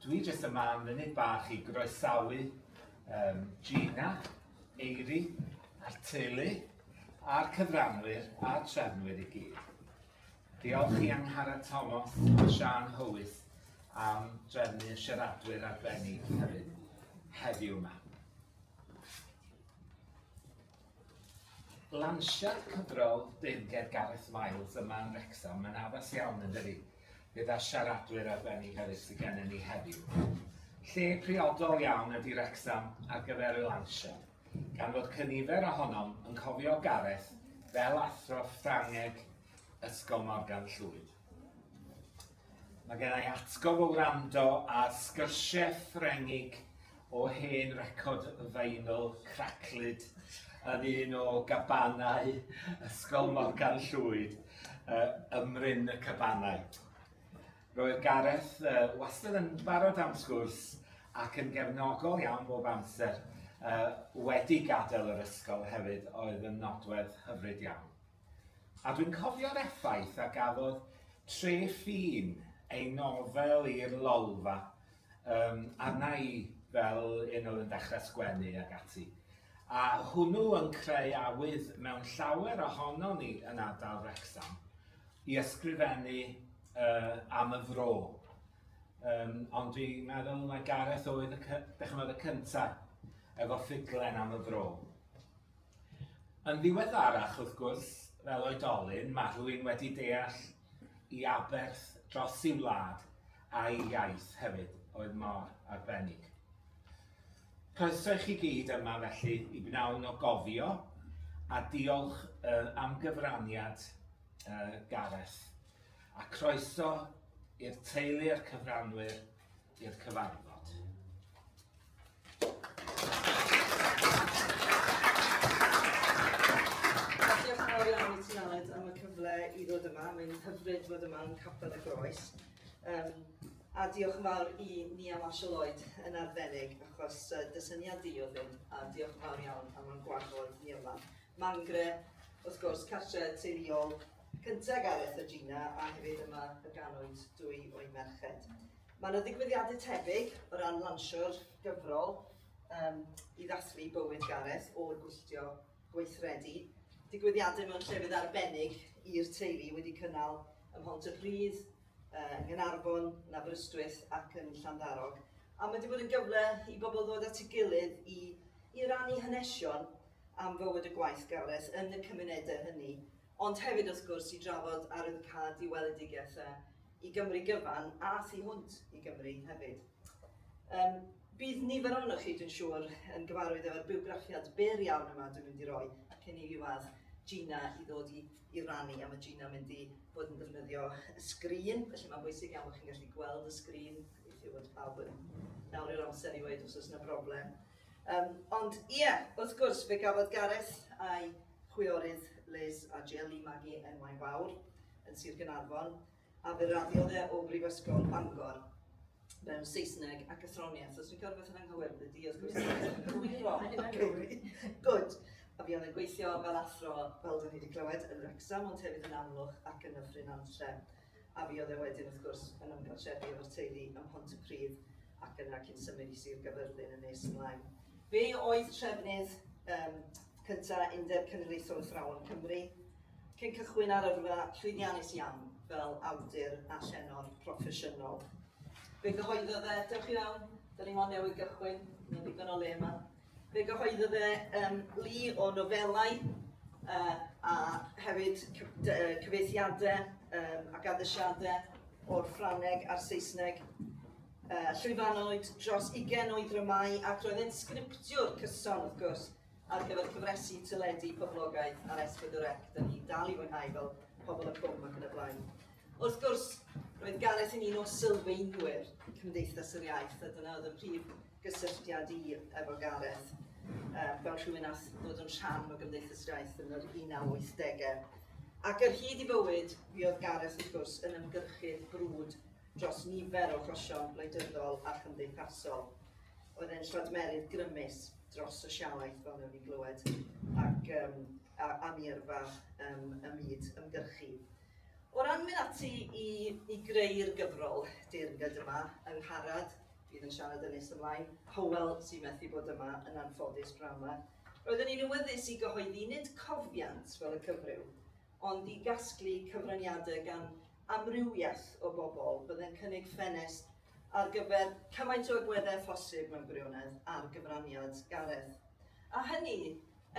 Dwi jyst yma am funud bach i groesawu um, Gina, Eiri, a'r teulu, a'r cyfranwyr a'r trefnwyr i gyd. Diolch i Angharad Thomas a Sian Hywys am drefnu y siaradwyr arbennig hefyd heddiw yma. Lansiad cyfrol deyrnged Gareth Miles yma yn Wrecsam, mae'n addas iawn yn dydi? Gyda siaradwyr arbennig hefyd sydd gennym ni heddiw. Lle priodol iawn ydy Wrecsam ar gyfer y lansiad, gan fod cynifer ohonom yn cofio Gareth fel athro Ffrangeg Ysgol Morgan Llwyd. Mae gen i atgof o wrando ar sgyrsiau Ffrengig o hen record vinyl craclyd yn un o gabanau Ysgol Morgan Llwyd, yy ym Mryn y Cabanau. Roedd Gareth yy wastad yn barod am sgwrs ac yn gefnogol iawn bob amser, yy wedi gadael yr ysgol hefyd oedd yn nodwedd hyfryd iawn. A dwi'n cofio'r effaith a gafodd Tre Ffin, ei nofel i'r Lolfa, yym, arna i fel un oedd yn dechrau sgwennu ac ati. A hwnnw yn creu awydd mewn llawer ohonon ni yn ardal Wrecsam i ysgrifennu uh, am y fro. Um, ond dwi'n meddwl mae Gareth oedd y, cy- y cyntaf efo ffuglen am y fro. Yn ddiweddarach, wrth gwrs, fel oedolyn, mae rhywun wedi deall i aberth dros ei wlad a'i iaith hefyd oedd mor arbennig. Croeso i chi gyd yma felly i bnawn o gofio a diolch uh, am gyfraniad uh, Gareth a croeso i'r teulu a'r cyfranwyr i'r cyfarfod. i ddod yma. Mae'n hyfryd fod yma yn Capel y Groes. Um, a diolch yn fawr i ni am Asio Lloyd yn arbennig, achos uh, dysyniad di oedd hyn, a diolch yn fawr iawn am o'n gwahodd ni yma. Mangre, wrth gwrs, cartre teuluol cyntaf Gareth a Gina, a hefyd yma y ganwyd dwy o'i merched. Mae yna ddigwyddiadau tebyg o ran lansio'r gyfrol um, i ddathlu bywyd Gareth o'r gwylltio gweithredu. Digwyddiadau mewn llefydd arbennig i'r teulu wedi cynnal ym Mhont y Rhydd, yng Nghanarfon, yn Aberystwyth ac yn Llanddarog. A mae wedi bod yn gyfle i bobl ddod at ei gilydd i, i rannu hanesion am fywyd y gwaithgaredd yn y cymunedau hynny, ond hefyd wrth gwrs i drafod arwyddocâd i weledigaethau i Gymru gyfan a thu hwnt i Gymru hefyd. Um, bydd nifer ohonoch chi, dwi'n siŵr, yn gyfarwydd efo'r bywgraffiad byr iawn yma dwi'n mynd i roi cyn i fi weld Gina i ddod i, i rannu a mae Gina mynd i fod yn defnyddio y sgrin, felly mae'n bwysig iawn bod chi'n gallu gweld y sgrin, gobeithio bod pawb yn nawr i'r amser i weid os oes yna broblem. Yym, ond ie, wrth gwrs, fe gafodd Gareth a'i chwiorydd Liz a Jill i magu enwau mawr yn Sir Gaernarfon, a fe raddiodd e o Brifysgol Bangor mewn Saesneg ac athroniaeth. Os fi'n cael rhywbeth yn anghywir, bydd di, wrth gwrs, cywiro. Cywri. Gwyd. A fi oedd yn gweithio fel athro, fel dyn ni wedi clywed, yn Wrecsam, ond hefyd yn Amlwch ac yn Nyffryn Nantlle. a fuodd e wedyn wrth gwrs yn ymgartrefu efo'r teulu ym Mhontypridd ac yna cyn symud i Sir Gafyrddin yn nes ymlaen. Fe oedd trefnydd um, cynta Undeb Cenedlaethol Athrawon Cymru, cyn cychwyn ar yrfa llwyddiannus iawn fel awdur a llenor proffesiynol. Fe gyhoeddodd e, dewch i fewn, da ni mond newydd gychwyn, mae'n ddigon o le yma. Fe gyhoeddodd e um, lu o nofelau uh, a hefyd cyfeithiadau um, ac addesiadau o'r Ffrangeg a'r Saesneg. Uh, llwyfanoed dros 20 o'i ddramau ac roedd e'n sgriptiwr cyson, wrth gwrs, ar gyfer cyfresu teledu poblogaidd ar S4C. Dyna ni'n dal i fwynhau fel pobl y cwm ac yn y blaen. Wrth gwrs, roedd Gareth yn un o sylfaenwyr Cymdeithas yr Iaith, a dyna oedd y prif gysylltiad i efo Gareth um, fel rhywun ath ddod yn rhan o Gymdeithas Iaith yn yr 1980au. Ac ar hyd i fywyd, mi oedd Gareth wrth gwrs yn ymgyrchydd brwd dros nifer o chosion wleidyddol a chymdeithasol. Oedd e'n lladmerydd grymus dros sosialaeth fel newn ni glywed ac um, a, a mi yrfa um, y myd ymgyrchu. O ran mynd ati i, i greu'r gyfrol deyrnged yma, yng Ngharad, Bydd yn siarad yn nes ymlaen. Hywel, sy'n methu bod yma, yn anffodus, p'nawn 'ma. Roeddwn i'n awyddus i gyhoeddi nid cofiant fel y cyfryw, ond i gasglu cyfraniadau gan amrywiaeth o bobl. Byddai'n cynnig ffenest ar gyfer cymaint o agweddau â phosib mewn gwirionedd ar gyfraniad Gareth. A hynny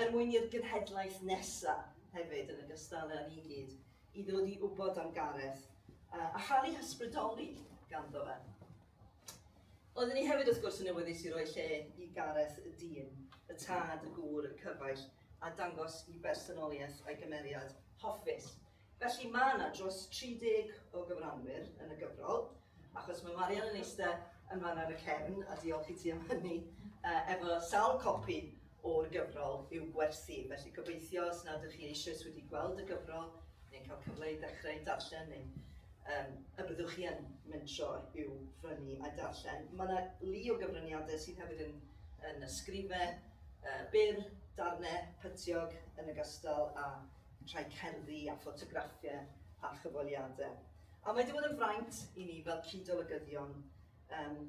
er mwyn i'r genhedlaeth nesa' hefyd, yn ogystal â ni gyd, i ddod i wybod am Gareth a chael ei hysbrydoli ganddo fe. Oeddwn i hefyd wrth gwrs yn newyddus i roi lle i Gareth y dyn, y tad, y gŵr, y cyfaill, a dangos i bersonoliaeth a'i gymeriad hoffus. Felly mae yna dros 30 o gyfranwyr yn y gyfrol, achos mae Marian yn eistedd yn fan ar y cefn, a diolch i ti am hynny, uh, efo sawl copi o'r gyfrol i'w gwersi, felly gobeithio os nad ydych chi eisoes wedi gweld y gyfrol neu'n cael cyfle i ddechrau ei darllen neu um, y byddwch chi yn mentro i'w frynu a darllen. Mae yna lu o gyfraniadau sydd hefyd yn, yn ysgrifau uh, byr, darnau pytiog yn y gystal a rhai cerddi a ffotograffiau a chyfoliadau. A mae wedi bod yn fraint i ni fel cyd-olygyddion um,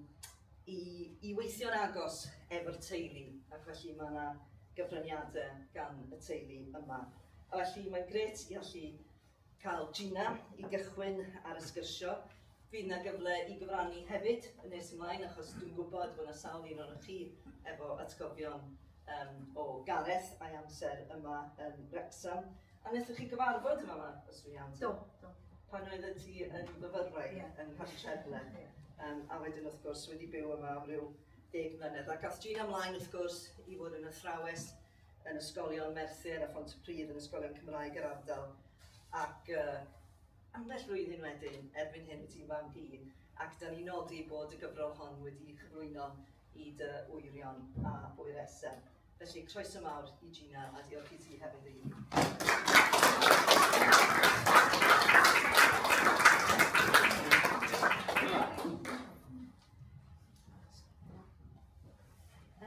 i, i weithio'n agos efo'r teulu, ac felly mae yna gyfraniadau gan y teulu yma. A felly mae'n gret i allu cael Gina i gychwyn ar y sgyrsio. Fydd yna gyfle i gyfrannu hefyd yn nes ymlaen, achos dwi'n gwybod bod yna sawl un o'r chi efo atgofion um, o Gareth a'i amser yma yn Wrexham. A wnaethoch chi gyfarfod yn fama, os dwi'n iawn? Do, do. Pan oedd y ti yn fyfyrwraig yeah. yn Nhaftrefle, yeah. um, a wedyn wrth gwrs wedi byw yma am ryw deg mlynedd. A gath Gina ymlaen wrth gwrs i fod yn athrawes yn ysgolion Merthyr a Phont y Pryd yn ysgolion Cymraeg yr ardal ac uh, ambell flwyddyn wedyn erbyn hyn ti'n fan fi ac da ni nodi bod y gyfrol hon wedi chyflwyno i dy wyrion a bwyr esau. Felly, croeso mawr i Gina a diolch i ti hefyd i.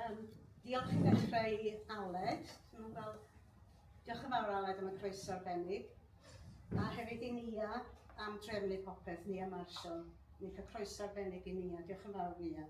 Um, diolch i ddechrau i Aled. Dwi'n fel, diolch yn fawr Aled am y croeso arbennig. A hefyd i Nia am drefnu popeth, Nia Marshall. Ni'n cael croeso arbennig i Nia. Diolch yn fawr Nia.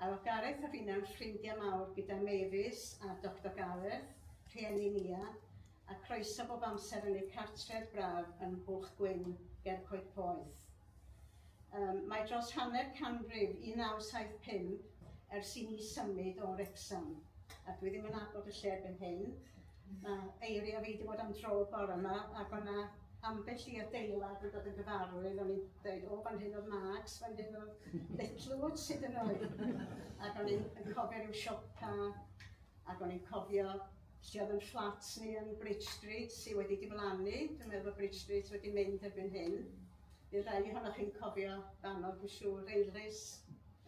A oedd Gareth a finna'n ffrindiau mawr gyda Mavis a Doctor Gareth, rhieni Nia, a croeso bob amser yn eu cartref braf yn Nghwch Gwyn ger Coed Poeth. Um, mae dros hanner canrif 1975 ers i ni symud o Wrecsam, a dwi ddim yn abod y lle erbyn hyn, Mae eiriau fi wedi bod am dro bore yma ac o'na ambell i adeilad yn dod yn gyfarwydd, o'n i'n dweud, o, fan hyn oedd Marks, fan hyn oedd Litlewoods sydd yn oed. ac o'n i'n cofio rhyw siopa, ac o'n i'n cofio lle oedd yn fflat ni yn Bridge Street sydd wedi diflannu, dwi'n meddwl bod Bridge Street wedi mynd erbyn hyn. Bydd rhai ohonoch chi'n cofio fanno, dwi'n siŵr, Eilris,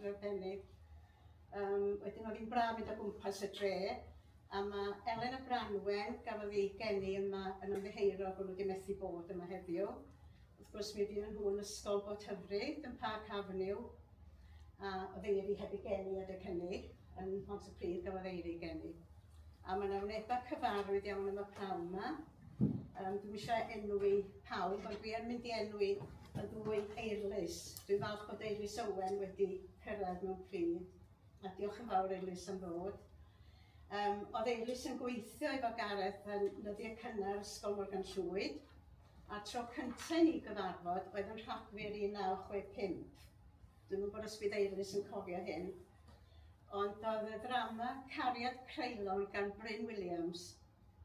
Ryddenig. Yym, wedyn oedd hi'n braf mynd o gwmpas y dre, a mae Elen a Branwen, gafodd ei geni yma yn ymddiheuro bod nhw wedi methu bod yma heddiw. Wrth gwrs, mi ydyn nhw yn ysgol bod hyfryd yn Park Avenue, a oedd Eiri heb ei geni adeg hynny, yn Mont y Pryd gafodd Eiri ei geni. A mae yna wnebau cyfarwydd iawn am y pnawn yma, Um, dwi'n eisiau enwi pawb, ond dwi yn mynd i enwi y ddwy eirlys. Dwi'n falch bod eirlys Owen wedi cyrraedd mewn pryd, a diolch yn fawr eirlys am ddod. Um, oedd eirlys yn gweithio efo Gareth yn nyddiau cynnar Ysgol Morgan Llwyd, a tro cyntaf ni gyfarfod oedd yn rhagfyr 1965. Dwi'n meddwl bod os bydd eirlys yn cofio hyn, ond oedd y ddrama Cariad Creulon gan Bryn Williams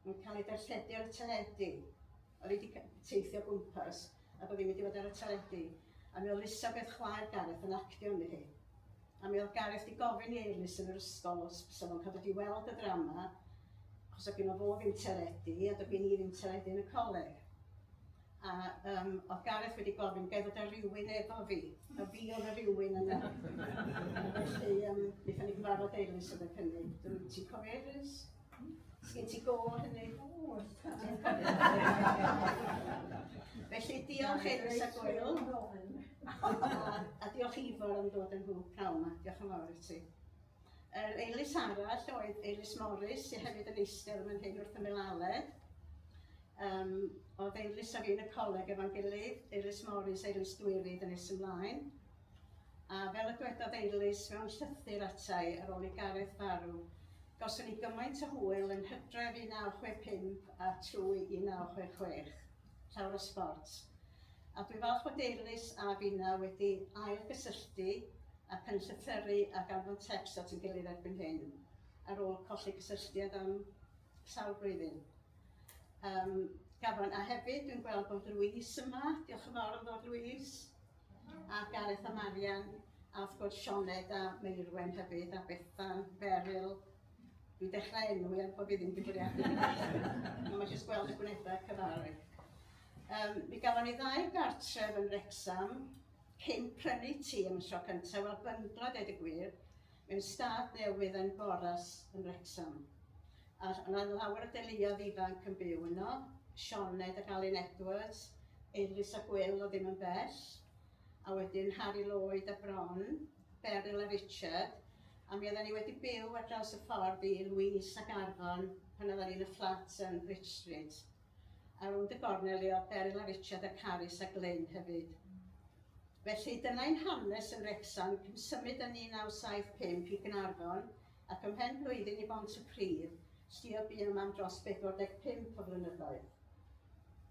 yn cael ei darlledu ar y teledu. Oedd hi wedi teithio gwmpas a bod hi'n mynd i fod ar y teledu. A mi oedd Elisabeth chwaer Gareth yn actio yn hi. A mi oedd Gareth wedi gofyn i Eilus yn yr ysgol os bysa fo'n cael dod i weld y ddrama, achos oedd gen o fo ddim teledu a doedd gen i ddim teledu yn y coleg. A um, oedd Gareth wedi gofyn, gael fod ar rywun efo fi, a fi oedd y rywun yna. Felly, um, wnaethon ni gyfarfod Eilus yn y cynnig. Dwi'n ti'n cofio Eilus? Sgyn ti go hynny? Felly diolch Eris a Gwyl. a diolch Ifor am dod yn nhw pnawn yma. Diolch yn fawr i ti. Yr Eilis arall oedd Eilis Morris, sy'n hefyd yn eistedd yn hyn wrth ymyl Aled. Um, oedd Eilis a fi yn y coleg efo'n gilydd, Eilis Morris, Eilis Dwyrydd yn nes ymlaen. A fel y dwedodd Eilis mewn llythyr atai ar ôl i Gareth farw, Gawson ni gymaint o hwyl yn Hydref 1965 a trwy 1966. Llawer o sbort. A dwi'n falch bod Eilís a finna wedi ail-gysylltu ac yn llythyru ac anfon tecs at ein gilydd erbyn hyn, ar ôl colli cysylltiad am sawl blwyddyn. Yym, gafon, a hefyd dwi'n gweld bod Louise yma, diolch yn fawr am ddod Louise, a Gareth a Marian. A wrth gwrs Sioned a Meirwen hefyd, a Bethan, Beryl. Dwi'n dechrau enw er bod fi ddim wedi bwriadu. Ond mae jyst gweld y gwneudau cyfarwydd. Um, mi gafon ni ddau gartref yn Rexham cyn prynu ti yn y tro cyntaf, wel byngla dweud y gwir, mewn stad newydd yn Boras yn Rexham. A yna lawer o deuluoedd ifanc yn byw yno, Sioned ac Alun Edwards, Eilis a Gwyl o ddim yn bell, a wedyn Harri Lloyd a bron, Beryl a Richard, a mi oeddan ni wedi byw ar draws y ffordd i Louise ac Arfon pan oeddan ni'n y fflat yn Bridge Street. A rownd y gornel le oedd Beryl a Richard a Carys a Glyn hefyd. Felly dyna ein hanes yn Wrecsam, cyn symud yn 1975 i Gaernarfon ac ymhen blwyddyn i Bont-y-pridd, sdi a bu yma am dros 45 o flynyddoedd.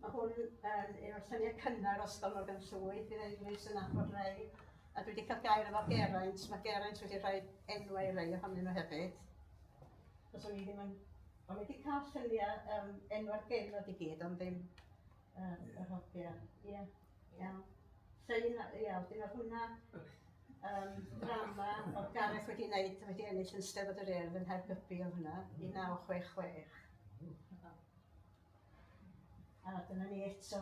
Mae hwn um, yw'r lluniau cynnar o Ysgol Morgan Llwyd. Bydd Eilís yn nabod rei. A dwi wedi cael gair efo Geraint. Mae Geraint wedi rhoi enwau rei ohonyn nhw hefyd. Os o'n i ddim yn... O'n i wedi cael lluniau um, enwau'r genod i gyd, ond ddim uh, yr hogia. Ie, yeah. iawn. Llun, ie, wedyn oedd hwnna um, drama oedd Gareth wedi wneud, wedi ennill yn Steddfod yr Urdd yn Hergybi oedd hwnna, 1966. A dyna ni eto.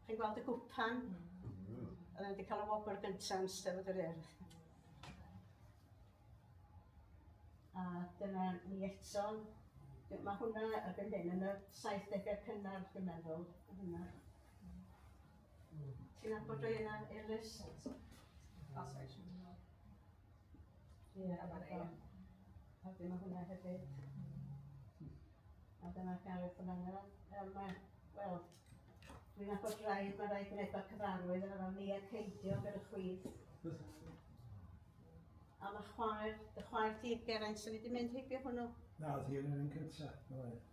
Chi'n gweld y gwpan? Mm. Oedd wedi cael y wobr gyntaf yn Steddfod yr Urdd. A dyna ni eto. Mae hwnna erbyn hyn yn y 70au cynnar, dwi'n meddwl. Hwnna. Ti'n abod rei yna, Elis? Os eisiau. Ie, a dyna fo. A dyna hwnna hefyd. A dyna Gareth yn fanna. Um, mae, wel, dwi'n nabod rai, mae rai gwneud o'r cyfarwydd yn fanna, Nia Ceidio gyda chwith. A mae chwaer, dy chwaer ti, Geraint, sy'n wedi mynd heibio hwnnw. Na, oedd hi yn un cyntaf.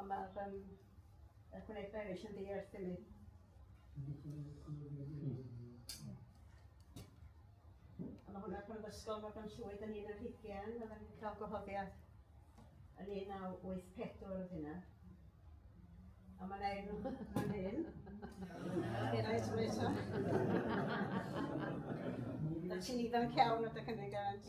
Ond mae'r um, y gwneud beris yn ddiarth i mi. A mae hwnna pan ddysgol mae pan llwyd yn un ar hugen, oedd yn cael gwahoddiad yn 1984 oedd hynna. A mae'n ei nhw yn hyn. Hiraeth yn eto. Da ti'n ifanc iawn o dy cynnig, Evans.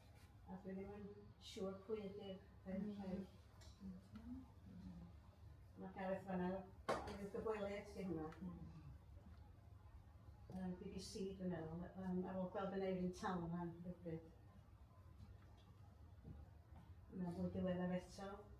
A dwi ddim yn siŵr pwy ydy'r ferched. Mae Gareth fanna. Gareth Gybweled di hwnna. Um, BBC dwi'n meddwl. Um, ar ôl gweld yn Eirin Tal yma rhywbryd. Mae'n fwy diweddar eto.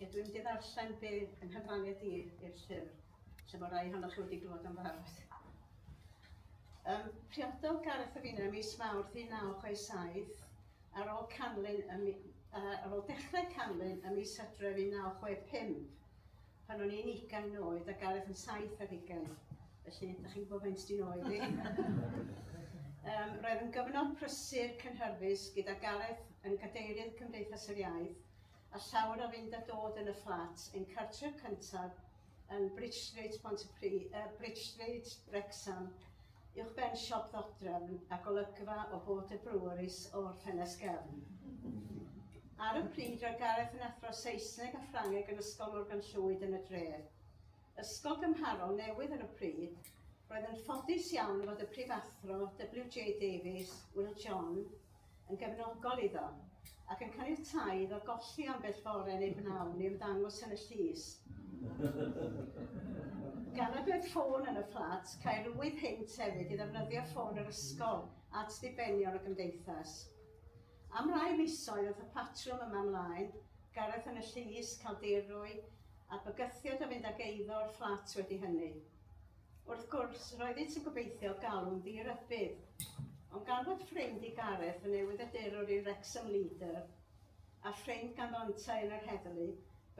Ie, dwi'n mynd i ddarllen be yn nghyfraniad i i'r llyfr, lle mae rai hannoch chi wedi glywed am barod. Um, priododd Gareth y Fina mis Mawrth 1967 ar ôl canlyn y, uh, ar ôl dechrau canlyn y mis Hydref 1965. Pan o'n i'n ugain oed a Gareth yn saith ar hugain, felly ydych chi'n gwybod faint sy'n oed i. um, roedd yn gyfnod prysur cynhyrfus gyda Gareth yn gadeirydd Cymdeithas yr Iaith a llawer o fynd a dod yn y fflat ein cartref cyntaf yn Bridge Street, Pont y Pri, uh, Bridge Street, Wrexham, Uwchben siop ddodrefn a golygfa o Bôt y Breweries o'r ffenest gefn. Ar y pryd roedd Gareth yn athro Saesneg a Ffrangeg yn Ysgol Morgan Llwyd yn y dref. Ysgol gymharol newydd ar y pryd, roedd yn ffodus iawn fod y prifathro WJ Davies, Will John, yn gefnogol iddo, ac yn caniatáu iddo golli ambell fore neu bnawn i ymddangos yn y llys. Gan nad oedd ffôn yn y fflat, caerwyd hynt hefyd i ddefnyddio ffôn yr ysgol at ddibenion y gymdeithas. Am rai misoedd oedd y patrwm yma ymlaen, Gareth yn y llys, cael dirwy, a bygythiad o fynd ag eiddo o'r fflat wedi hynny. Wrth gwrs, roeddent yn gobeithio galw'n ddi-rybudd, ond gan fod ffrind i Gareth yn newyddiadurwr i Wrexham Leader, a ffrind ganddo yntau yn yr heddlu,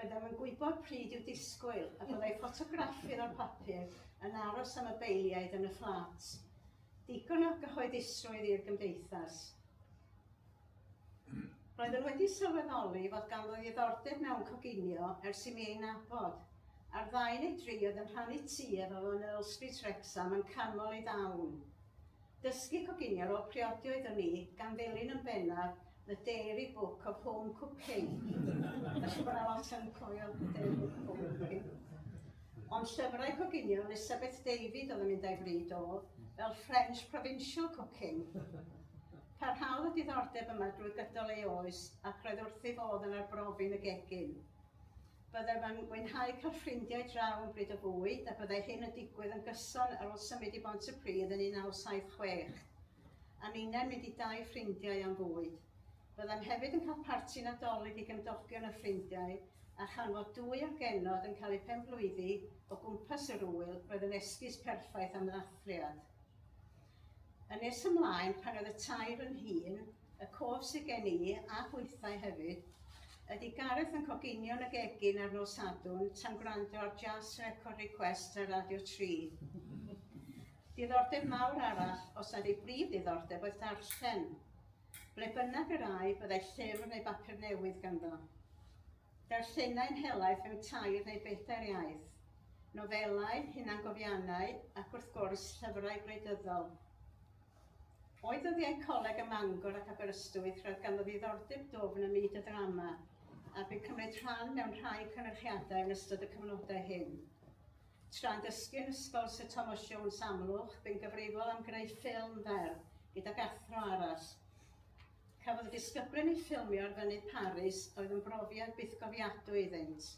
byddem yn gwybod pryd i'w disgwyl, a byddai ffotograffydd o'r papur yn aros am y beiliaid yn y fflat. Digon o gyhoeddusrwydd i'r Gymdeithas. Roeddwn wedi sylweddoli fod ganddo ddiddordeb mewn coginio ers i mi ei nabod. Ar ddau neu dri oedd yn rhannu tŷ efo fo yn Earl Street Wrecsam yn canmol ei ddawn. Dysgu coginio ar ôl priodi oeddwn i, gan ddilyn yn bennaf The Dairy Book of Home Cooking. Mae'n siŵr bod yna lot yn cofio The Dairy Book of Home Cooking. Ond llyfrau coginio Elisabeth David oedd yn mynd a'i fryd oedd, fel French Provincial Cooking. Parhaodd y diddordeb yma drwy gydol ei oes ac roedd wrth ei fodd yn arbrofi'n y gegin. Byddem yn mwynhau cael ffrindiau draw yn bryd o fwyd a byddai hyn yn digwydd yn gyson ar ôl symud i Bont-y-pridd yn 1976. A ninnau'n mynd i dai ffrindiau am fwyd. Byddem hefyd yn cael parti Nadolig i gymdogion a ffrindiau a chan fod dwy o'r genod yn cael eu penblwyddi o gwmpas yr ŵyl roedd yn esgus perffaith am ddathliad. A nes ymlaen, pan oedd y tair fy nhîn, y cof sydd gen i, a hwythau hefyd, ydy Gareth yn coginio'n y gegin ar nos Sadwrn tan gwrando ar Jazz Record Request ar Radio 3. Diddordeb mawr arall, os nad ei brif ddiddordeb, oedd darllen. Ble bynnag yr ai, byddai llyfr neu bapur newydd ganddo. Darllenai'n helaeth mewn tair neu bedair iaith, nofelau, hunangofiannau ac wrth gwrs, llyfrau gwleidyddol. O'i ddyddiau coleg ym Mangor ac Aberystwyth roedd ganddo ddiddordeb dwfn ym myd y ddrama a bu cymryd rhan mewn rhai cynyrchiadau yn ystod y cyfnodau hyn. Tra'n dysgu yn Ysgol Syr Thomas Jones Amlwch, bu'n gyfrifol am greu ffilm fer gydag athro arall. Cafodd y disgyblion eu ffilmio ar fynydd Paris oedd yn brofiad bythgofiadwy iddynt.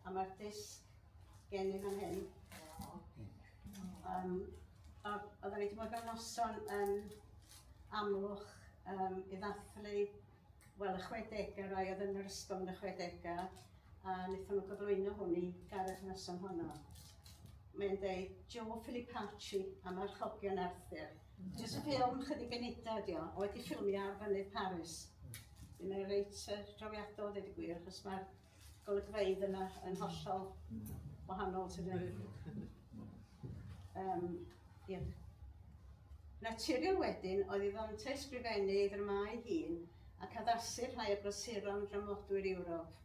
A mae'r disg gen i fan hyn. Um, oedden ni wedi bod mewn noson yn amlwch um, i ddathlu wel, y 60au rai oedd yn yr ysgol yn y 60au a wnaethon nhw gyflwyno hwn i gareth noson honno. Mae'n dweud Joe Filipacci am archogion Arthur. Jyst ffilm chydig funuda ydi o, wedi ffilmio ar fynydd Paris. Yn ei reit uh, drawiadol, dweud y gwir, achos mae'r golygfeydd yna yn hollol wahanol, ti'n dweud. Um, yeah. Naturiol wedyn, oedd i ddant ei sgrifennu ei ddramau hun ac addasu'r rhai o brasuron dramodwyr Ewrop.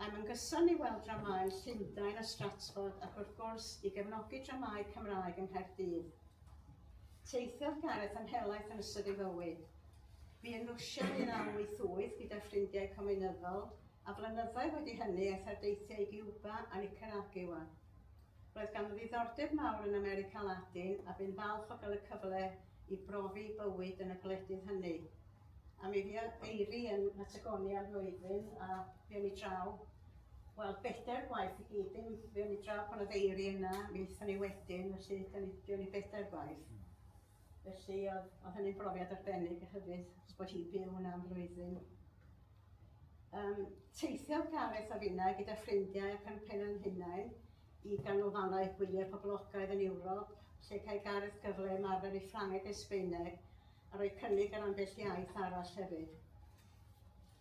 Yn ymgyson i weld dramâu Llundain a Stratford ac wrth gwrs i gefnogi dramâu Cymraeg yng Nghaerdydd. Teithiodd Gareth am helaeth yn ystod ei fywyd. Bu yn Rwsia yn 1988 gyda ffrindiau cominyddol a flynyddoedd wedi hynny aeth ar deithiau i Giwba a Nicaragua. Roedd ganddo ddiddordeb mawr yn America Latin a bu'n falch o gael y cyfle i brofi bywyd yn y gwledydd hynny. A mi fia Eiri yn Patagonia am flwyddyn a fe ni draw, wel bedair gwaith i gyd, dim fe ni draw pan oedd Eiri yna, mi aethon ni wedyn, felly da ni, fe ni bedair gwaith. Felly oedd, oedd hynny'n brofiad arbennig a hyfyd, os bod hi'n byw yna am flwyddyn. Um, teithiodd Gareth a finna gyda ffrindiau ac yn pen yn hunain i ganolfannau gwyliau poblogaidd yn Ewrop, lle cael Gareth gyfle ymarfer ei Ffrangeg a'i Sbeineg a rhoi cynnig ar ambell iaith arall hefyd.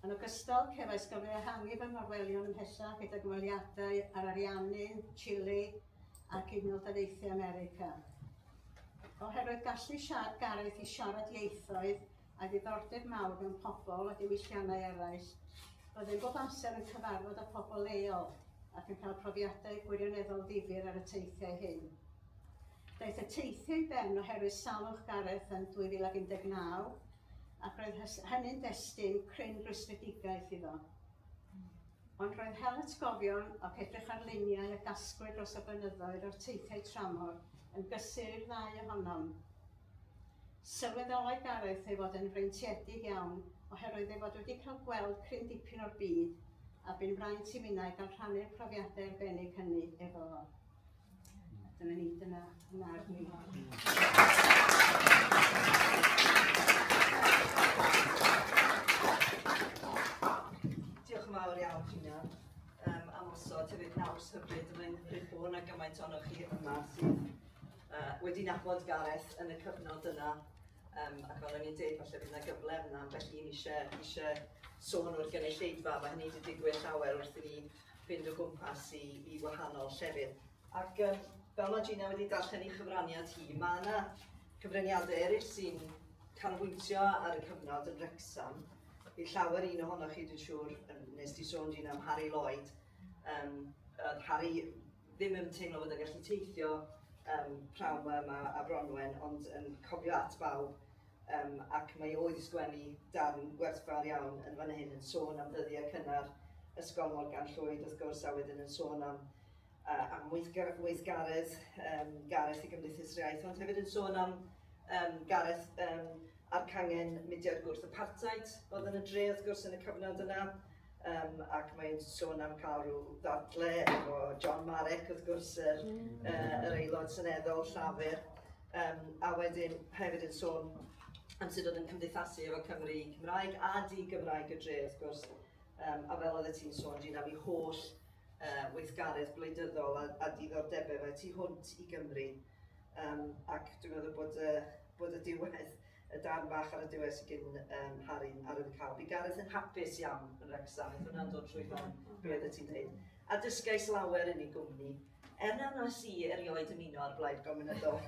Yn ogystal, cefais gyfle ehangu fy ngorwelion ymhellach gyda gymweliadau ar Ariannu, Chile ac Unol Daleithiau America. Oherwydd gallu siarad Gareth i siarad ieithoedd a ddiddordeb mawr mewn pobl a diwylliannau eraill, byddwn bob amser yn cyfarfod â phobl leol ac yn cael profiadau gwirioneddol ddifyr ar y teithiau hyn. Daeth y teithio i ben oherwydd salwch Gareth yn 2019 ac roedd hynny'n destun cryn rwystredigaeth iddo. Ond roedd hel atgofion ac edrych ar luniau a gasglwyd dros y blynyddoedd o'r teithiau tramor yn gysur i'r ddau ohonom. Sylweddolai Gareth ei fod yn freintiedig iawn oherwydd ei fod wedi cael gweld cryn dipyn o'r byd a bu'n fraint i minnau gael rhannu'r profiadau arbennig hynny efo fo. Dyna ni, dyna marn ni. Diolch yn fawr iawn, Gina, um, am osod hefyd naws hyfryd yn ein rhywbeth na gymaint o'n chi yma sydd uh, wedi nabod Gareth yn y cyfnod yna. Um, ac fel o'n i'n dweud, falle bydd yna gyfle yna, felly ni eisiau, eisiau sôn o'r gynulleidfa, mae hynny wedi digwydd llawer wrth i ni fynd o gwmpas i, i wahanol llefydd. Ac um, fel mae Gina wedi darllen ei chyfraniad hi, mae yna cyfraniadau eraill sy'n canolbwyntio ar y cyfnod yn Wrexham. Bydd llawer un ohonoch chi, dwi'n siŵr, nes di sôn Gina am Harry Lloyd. Um, Harry ddim yn teimlo bod yn gallu teithio um, prawn yma a Bronwen, ond yn cofio at bawb Yym ac mae oedd sgwennu darn gwerthfawr iawn yn fan hyn yn sôn am ddyddiau cynnar Ysgol Morgan Llwyd wrth gwrs a wedyn yn sôn am uh, am weithgar, weithgaredd um, Gareth i Gymdeithas yr Iaith, ond hefyd yn sôn am um, Gareth um, a'r cangen mudiad gwrth apartheid oedd yn y dre wrth gwrs yn y cyfnod yna. Um, ac mae'n sôn am cael rhyw ddadle efo John Marek, wrth gwrs, yr, mm. uh, yr aelod syneddol Llafur, um, a wedyn hefyd yn sôn am sut oedd yn cymdeithasu efo Cymru Cymraeg a di Gymraeg y dre, wrth gwrs. Um, a fel oedd ti'n sôn, dwi'n am i holl uh, weithgaredd gwleidyddol a, a diddordebau fe tu hwnt i Gymru. Um, ac dwi'n meddwl bod y, bod y diwedd Y darn fach ar y diwedd sy gin um, Harry ar y cael. Bu Gareth yn hapus iawn yn Wrecsam, beth hwnna'n dod trwy ben, be oedd y ti'n dweud. A dysgais lawer yn ei gwmni, er na wnes i erioed ymuno â'r blaid gomunydol.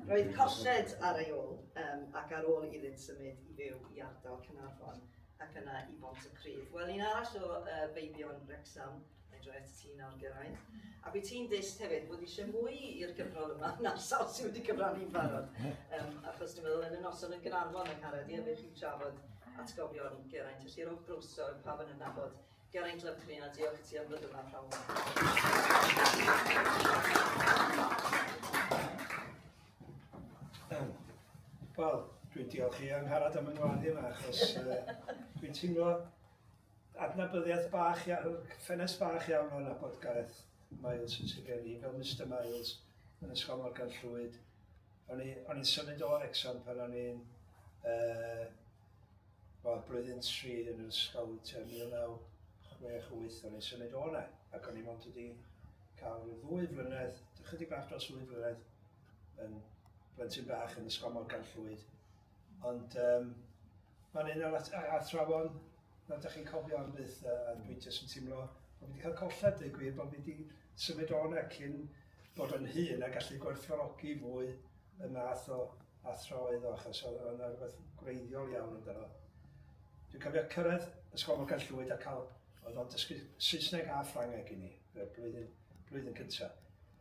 Roedd colled ar ei ôl, um, ac ar ôl iddynt symud i fyw i ardal Cynarfon ac yna i Bont y Crydd. Wel, un arall o uh, feibion Wrecsam, Fedra et ti nawr gyrraedd. A byd ti'n dist hefyd bod eisiau mwy i'r gyfrol yma na'r sawl sydd wedi cyfrannu'n barod. Um, achos dwi'n meddwl yn y noson yn Gynarfon yn Haredi, a fe chi'n trafod atgofion Geraint. Felly rhowch groeso i'r pawb yn yna bod Geraint Lyfryn a diolch i ti am ddod yma pawb. Wel, dwi'n diolch i Angharad am yng Ngwlad yma achos uh, dwi'n teimlo Adnabyddiaeth bach iawn, ffenest bach iawn o nabod Gareth Miles yn sir gen i, fel Mister Miles yn Ysgol Morgan Llwyd. O'n i, o'n i'n symud o Wrecsam pan o'n i'n uh, well, blwyddyn tri yn yr ysgol tua 1968, o'n i'n symud o yna, ac o'n i mond wedi cael rhyw ddwy flynedd, chydig bach dros ddwy flynedd, yn blentyn bach yn ysgol Morgan Llwyd. Ond um, mae'n un o'r athrawon na ydych chi'n cofio am byth, a, a dwi jyst yn teimlo bod fi wedi cael colled dweud gwir, bod fi wedi symud o'n ac cyn bod yn hun a gallu gwerthfawrogi fwy y math o athro oedd o, achos oedd yna rhywbeth gwreiddiol iawn yn dyno. Dwi'n cofio cyrraedd Ysgol Morgan Llwyd a cael, oedd o'n dysgu Saesneg a Ffrangeg i ni, blwyddyn, blwyddyn cyntaf.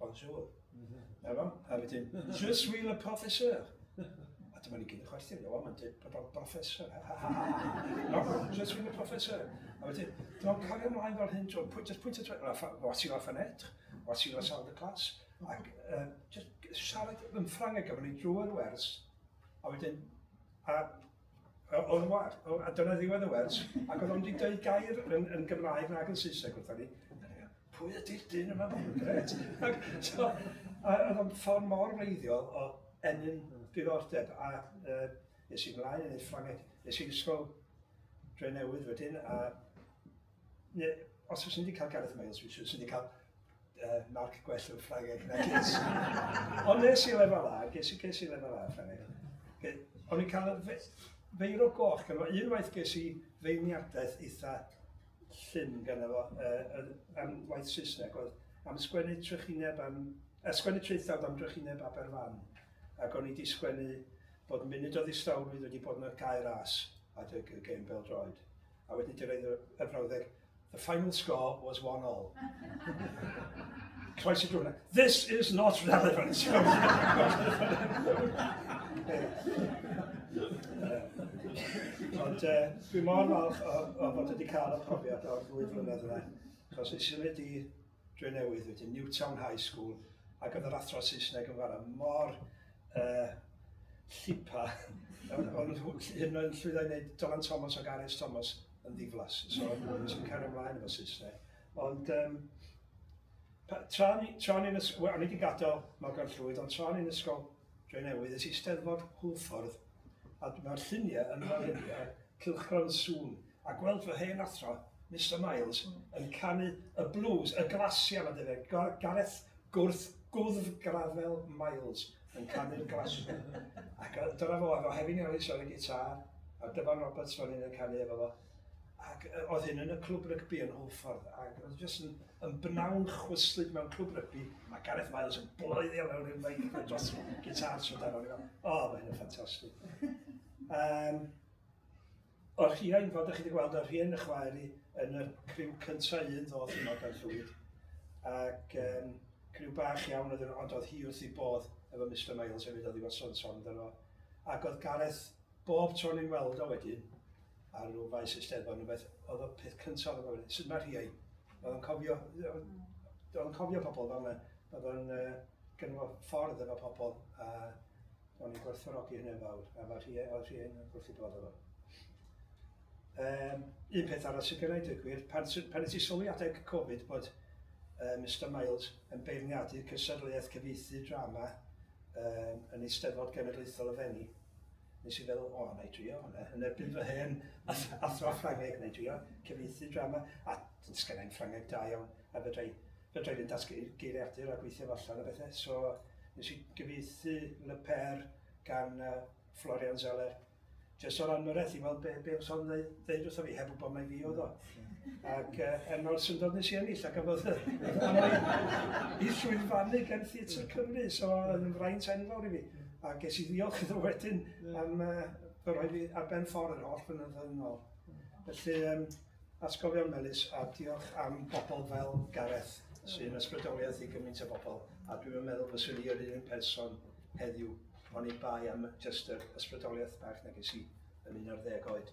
Bonjour. Na fo? A wedyn, je suis le professeur. A dyma ni gyd yn chwerthin, no, mae'n dweud bod o'n professor. no, je suis le professor. A wedyn, dwi'n cario ymlaen fel hyn, dwi'n pwynt, pwynt, pwynt, what you laugh an et, what you laugh out the class. Ac um, just siarad yn Ffrangeg, a ni'n drwy'r wers, a wedyn, a o'r war, a dyna ddiwedd y wers, ac oedd o'n wedi dweud gair yn, yn Gymraeg nag yn Saesneg wrthyn ni, pwy ydy'r dyn yma? Gret. Ac, so, a oedd o'n ffordd mor wreiddiol o ennyn diddordeb a uh, nes i'n mlaen yn ei Ffrangeg, nes i'n ysgol dre newydd wedyn a ne, os oes wedi cael Gareth Miles, fi sy'n wedi cael uh, marc gwell yn Ffrangeg na ges. Ond nes i lefel A, ges i, ges i lefel A Ffrangeg. O'n i'n cael feir o goch, gan un waith ges i feirniadaeth eitha llym ganddo fo, uh, am waith Saesneg, oedd am sgwennu trychineb am, uh, sgwennu traethawd am drychineb Aberfan. Ac o'n i wedi sgwennu bod munud o ddistawrwydd wedi bod yna'r gair as at y gêm bel droed. A wedyn di reid y frawddeg, the final score was one all. Croes y drwna. This is not relevant. Ond uh, dwi mor falch o, o fod wedi cael y profiad o'r ddwy flynedd yna, achos i symud i dre newydd wedi Newtown High School, ac oedd yr athro Saesneg yn fara mor uh, llipa, ond hyn o'n llwyddau wneud Dylan Thomas o Gareth Thomas yn ddiflas, so sy'n cario ymlaen efo Saesneg. Ond um, Tra o'n i, tra o'n i yn ysgol, o'n i wedi gadael Morgan Llwyd, ond tra o'n i'n ysgol Drenewydd, es i Steddfod Hwlffordd, a mae'r lluniau yn fan hyn ar cylchgrawn sŵn, a gweld fy hen athro, Mister Miles, yn canu y blues, y glasiau mae'n debyg, Gareth Gwrth Gwddf Grafel Miles yn canu'r Glasio. Ac dyna fo, efo Hefin Ellis ar y gitar, a Dyfan Roberts fan hyn yn canu efo fo. Ac oedd hyn yn y clwb rygbi yn Hwlffordd, ac oedd jyst yn, yn bnawn chwyslyd mewn clwb rygbi, mae Gareth Miles yn bloeddio mewn i'r meic yn dros gitar trwy dan o'n i'n o, mae hyn yn ffantastig. Um, o'r rhiain, fel ydych chi wedi gweld, o'r rhiain y chwaer i yn y criw cyntaf un ddoth yma gan llwyd, ac um, criw bach iawn oedd ond oedd hi wrth i bodd efo Mr Miles hefyd oedd i fod son son amdano fo. Ac oedd Gareth bob tro'n i'n weld o wedyn, ar ôl faes Eisteddfod, yn beth, oedd y peth cyntaf oedd yn gofyn, sut mae rhiai? Oedd yn cofio, oedd yn cofio pobl fel yna, oedd yn uh, gynnu ffordd efo pobl, a oedd yn gwerthfawrogi hynny'n fawr, a mae rhiai, oedd rhiai yn gwrthi bod efo. Um, un peth arall sy'n gynnau dweud gwir, pan, pan ydych sylwi adeg Covid bod uh, Mr Miles yn beirniadu cysadleuaeth cyfeithi drama um, yn Eisteddfod Genedlaethol y Fenni, Nes i feddwl, o, na i drio hwnna, yn erbyn fy hen athro Ffrangeg, na i drio cyfieithu drama, a sgennau'n Ffrangeg da iawn, a fedrai, fedrai fynd at geiriadur a gweithio allan o bethau. So, nes i gyfieithu Le Père gan uh, Florian Zeller, jyst o'r anwyrraeth i weld be, be oedd o'n ddeud wrtho fi, heb wybod mai fi oedd o. Ac uh, er mor syndod nes i ennill, ac afodd i llwyfannu gen Theatr Cymru, so yn fraint enfawr i fi. A ges i ddiolch iddo wedyn am uh, fy rhoi fi ar ben ffordd yr holl fynyddoedd yn ôl. Felly, um, atgofion melus a diolch am bobl fel Gareth sy'n ysbrydoliaeth i gymaint o bobl a dwi'n meddwl fyswn i yr un person heddiw o'n i bai am just yr ysbrydoliaeth bach na ges i yn un ar ddeg oed.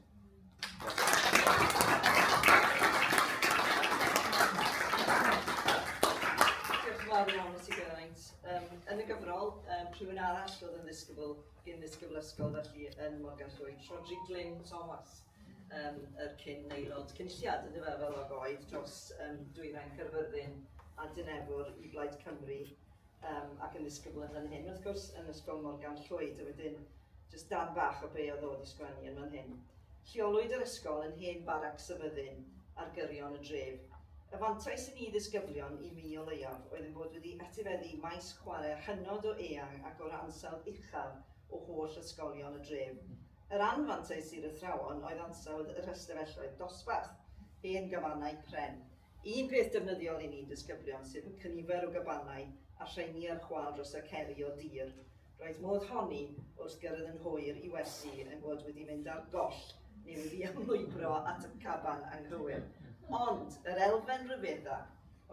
rhywun arall oedd yn ddisgybl, gyn ddisgybl ysgol felly yn Morgan Llwyd, Rodri Glyn Thomas, um, yr cyn aelod cynlliad yn dyfa fel oedd dros um, dwyrain Cyrfyrddin a Dynefwr i Blaid Cymru um, ac yn ddisgybl yn fan hyn. Wrth gwrs, yn Ysgol Morgan Llwyd, a wedyn jyst dan bach o be oedd o wedi sgwennu yn fan hyn. Lleolwyd yr ysgol yn hen barac syfyddin ar gyrion y dref. Y fantais i ni ddisgyblion, i mi o leiaf, oedd yn bod wedi etifeddu maes chwarae hynod o eang ac o'r ansawdd uchaf o holl ysgolion y dref. Yr anfantais i'r athrawon oedd ansawdd yr ystafelloedd dosbarth, hen gafanau pren. Un peth defnyddiol i ni disgyblion sydd yn cynifer o gabanau a rheini ar chwal dros y ceri o dir, roedd modd honni wrth gyrraedd yn hwyr i wersi ein bod wedi mynd ar goll neu wedi ymlwybro at y caban anghywir. Ond yr elfen ryfedda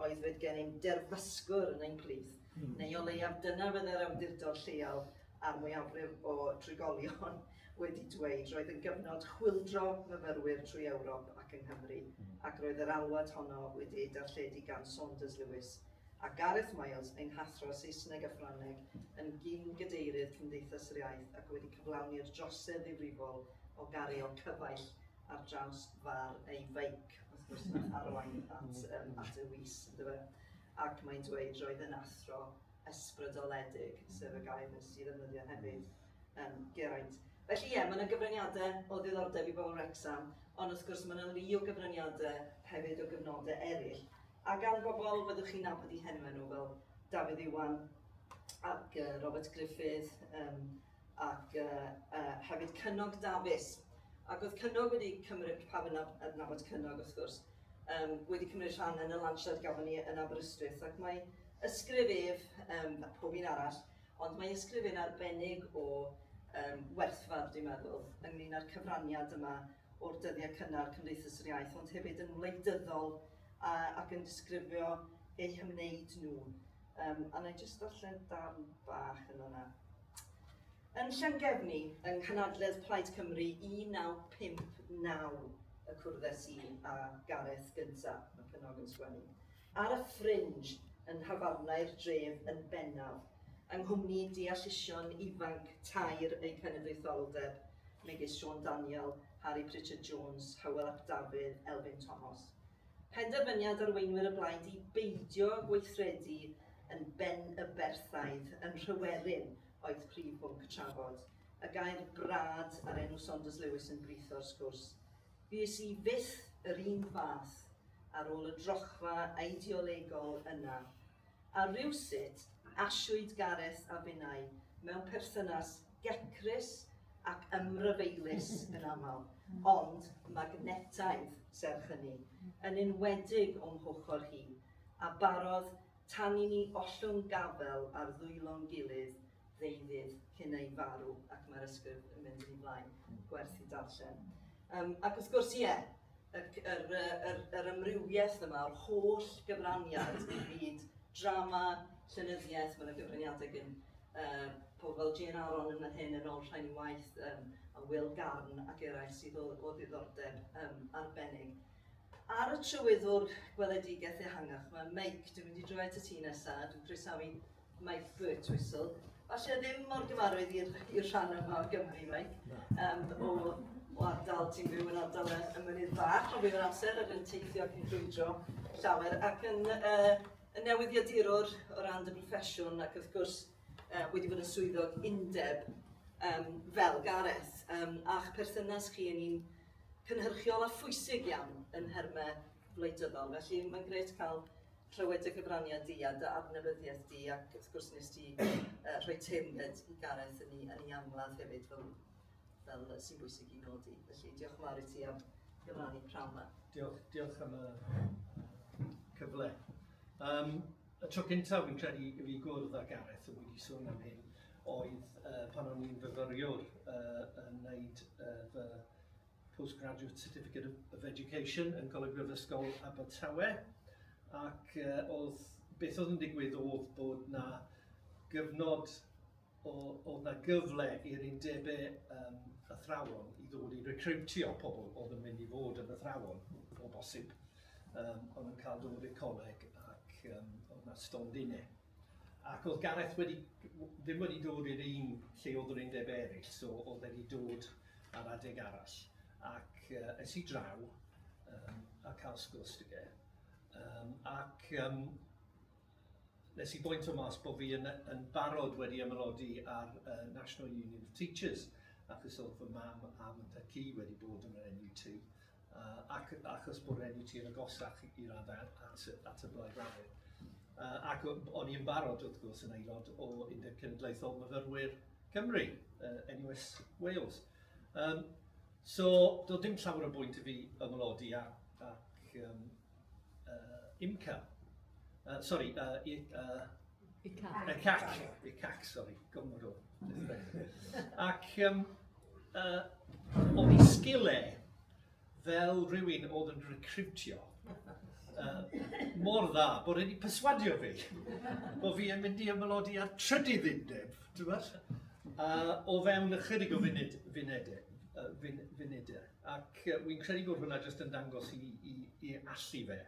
oedd fod gennym derfysgwr yn ein plith, neu o leiaf dyna fyddai'r awdurdod lleol a'r mwyafrif o drigolion wedi dweud, roedd yn gyfnod chwyldro myfyrwyr trwy Ewrop ac yng Nghymru, ac roedd yr alwad honno wedi ei darlledu gan Saunders Lewis, a Gareth Miles, ein hathro Saesneg a Ffrangeg, yn gyn-gadeirydd Cymdeithas yr Iaith ac wedi cyflawni'r drosedd ddifrifol o gario cyfaill ar draws far ei feic, wrth gwrs mae'n arwain at, um, at y wis, ynddo fe? Ac mae'n dweud, roedd yn athro ysbrydoledig, sef y gair nes i ddefnyddio hefyd, um, Geraint. Felly ie, mae yna gyfraniadau o ddiddordeb i bobl Wrexham, ond wrth gwrs mae yna lu o gyfraniadau hefyd o gyfnodau eraill. A gan bobl byddwch chi'n nabod i henwau nhw fel Dafydd Iwan ac uh, Robert Griffith, um, ac hefyd Cynog Dafis. Ac oedd Cynog wedi cymryd, pawb yn adnabod Cynog wrth gwrs, wedi cymryd rhan yn y lansiad gafon ni yn Aberystwyth ac mae ysgrif ef, a pob un arall, ond mae ysgrif e'n arbennig o werthfawr dwi'n meddwl, ynglyn â'r cyfraniad yma o'r dyddiau cynnar Cymdeithas yr Iaith, ond hefyd yn wleidyddol ac yn disgrifio eu hymwneud nhw. Yym, a wna i jyst darllen darn bach yn fanna. Yn Llangefni, yng Nghanadledd Plaid Cymru 1959 y cwrddes i a Gareth gynta, mae Cynog yn sgwennu, ar y Fringe yn nhafarnau'r dref yn bennaf, yng nghwmni deallusion ifanc tair eu cenedlaetholdeb, megis Siôn Daniel, Harri Pritchard Jones, Hywel ap Dafydd, Elfyn Tomos. Penderfyniad arweinwyr y blaid i beidio gweithredu yn Benyberthaidd yn Nhryweryn oedd prif bwnc trafod. Y gair 'brad' a'r enw Saunders Lewis yn britho'r sgwrs. Fues i fyth yr un fath ar ôl y drochfa eideolegol yna A rywsut, asiwyd Gareth a finnau mewn perthynas gecrus ac ymryfeilus yn aml, ond magnetaidd, serch hynny, yn enwedig o'm hochr hi, a barodd tan i ni ollwng gafel ar ddwylo'n gilydd ddeuddydd cyn ei farw, ac mae'r ysgrif yn mynd yn ei flaen, gwerth i darllen. Um, ac wrth gwrs, ie, yeah, yr, yr, yr, yr ymrywiaeth yma, o'r holl gyfraniad i fyd drama, llenyddiaeth, mae'n gyfraniadau gen uh, pobl fel Jane Aron yn yr hyn yn ôl rhain waith um, a Will Garn ac eraill sydd o, o ddiddordeb um, arbennig. Ar y trywyddwr gweledigaeth ehangach, mae Meic, dwi'n mynd i droi at y ti nesaf, dwi'n croesawu Mae Foot Whistle, falle ddim mor gyfarwydd i'r rhan yma o Gymru, Mike, um, o, o ardal, ti'n byw yn ardal y, y mynydd bach, ond bydd yn amser ac yn teithio ac yn ffrwydro llawer, ac yn, uh, yn newyddiadurwr o ran dy broffesiwn, ac wrth gwrs uh, wedi bod yn swyddog undeb um, fel Gareth, um, a'ch perthynas chi yn un cynhyrchiol a phwysig iawn yn nhermau gwleidyddol. Felly mae'n gret cael clywed dy gyfraniad di a dy adnewyddiaeth di ac wrth gwrs nes ti uh, rhoi teyrnged i Gareth yn ei, yn ei angladd hefyd fel, fel sy'n bwysig i nodi. Felly diolch yn fawr i ti am gyfrannu prawn yma. Diolch, diolch am y cyfle. Um, y tro cyntaf fi'n credu i fi gwrdd â Gareth yn wedi sôn am hyn oedd uh, pan o'n i'n fyfyriwr uh, yn wneud uh, fy Postgraduate Certificate of Education yn Coleg Brifysgol Abertawe ac oedd, beth oedd yn digwydd oedd bod na gyfnod, oedd na gyfle i'r undebau yym athrawon i ddod i recriwtio pobl oedd yn mynd i fod yn athrawon o bosib, oedd yn cael dod i'r coleg ac oedd na stondinne. Ac oedd Gareth wedi... ddim wedi dod i'r un lle oedd yr undebau eraill, so oedd e wedi dod ar adeg arall. Ac yy es i draw yym a cael sgwrs 'da fe yym ac yym wnes i bwyntio mas bo' fi yn yy yn barod wedi ymaelodi ar yy National Union of Teachers achos oedd fy mam a fy nhad-cu wedi bod yn yr NUT Uh, ac achos bod enw ti yn agosach i raddau at, at y Blaid Lafur. Uh, ac o'n i'n barod, wrth gwrs, yn aelod o Undeb Cenedlaethol Myfyrwyr Cymru, uh, NUS Wales. Um, so, doedd dim llawer o bwynt i fi ymwlodi a, ac um, uh, IMCA. Uh, sorry, uh, i, uh, ICAC. ICAC, ICAC, sorry, gymryd o. ac um, uh, o mi sgile fel rhywun oedd yn recrwtio uh, mor dda bod wedi perswadio fi bod fi yn mynd i ymwylodi ar trydydd undeb, dweud, uh, o fewn ychydig o funud, funedau. Uh, funedau. Ac uh, wy'n credu bod hwnna jyst yn dangos i, i, i allu fe.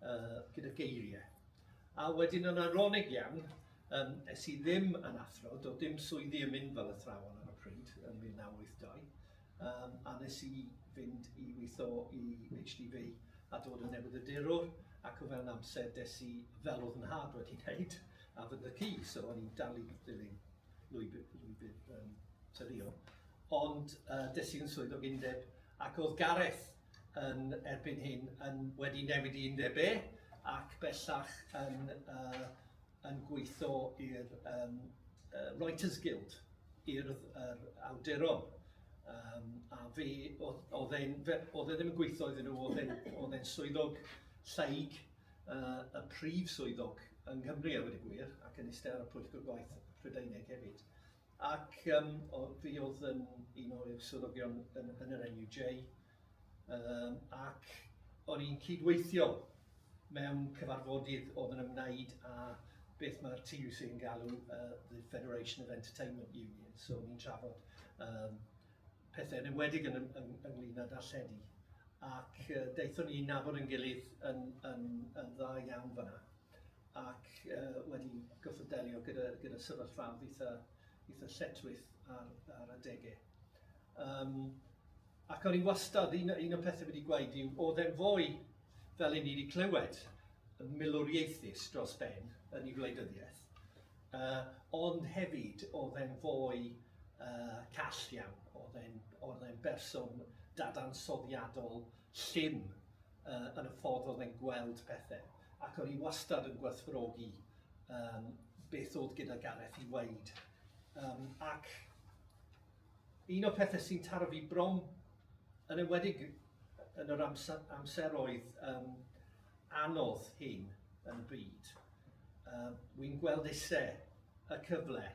uh, gyda geiriau. A wedyn yn aronig iawn, um, es i ddim yn athro, do dim swyddi yn mynd fel athrawon ar y pryd yn 1982, um, a nes i fynd i weithio i HDB a dod yn newydd y dirwr, ac o fewn amser des i fel oedd yn had wedi wneud, a fy y ci, so o'n i'n dal i ddilyn lwybr, lwybr um, tyrio. Ond uh, des i'n swyddog undeb, ac oedd Gareth yn erbyn hyn yn wedi newid i undeb E ac bellach yn, uh, yn gweithio i'r um, uh, Writers Guild, i'r er, awduron. Um, a fe, oedd e ddim yn gweithio iddyn nhw, oedd e'n swyddog lleig, uh, y prif swyddog yng Nghymru a wedi gwir, ac yn eistedd ar y pwyllgor gwaith Prydeinig hefyd. Ac yym o- fi oedd yn un o'r swyddogion yn yn yr NUJ yym ac o'n i'n cyd-weithio mewn cyfarfodydd oedd yn ymwneud â beth mae'r TUC yn galw yy the Federation of Entertainment Unions, so o'n i'n trafod yym pethau yn enwedig yn yn ynglŷn â darlledu ac yy daethon ni i nabod ein gilydd yn yn yn dda iawn fan'na. ac wedi gorfod delio gyda gyda sefyllfaoedd eitha eitha lletchwith ar ar adegau. Um, ac o'n i wastad, un, un o'r pethau wedi gweud yw, oedd e'n fwy fel i ni wedi clywed y milwriaethus dros ben yn ei wleidyddiaeth, uh, ond hefyd oedd e'n fwy uh, call iawn, oedd e'n berson dadansoddiadol llym yy yn y ffordd oedd e'n gweld pethe, ac o'n i wastad yn gwerthfawrogi yym beth oedd gyda Gareth i weud. Um, ac un o'r pethau sy'n taro fi bron yn enwedig yn yr amser, amseroedd um, anodd hyn yn y byd, uh, wy'n gweld eisiau y cyfle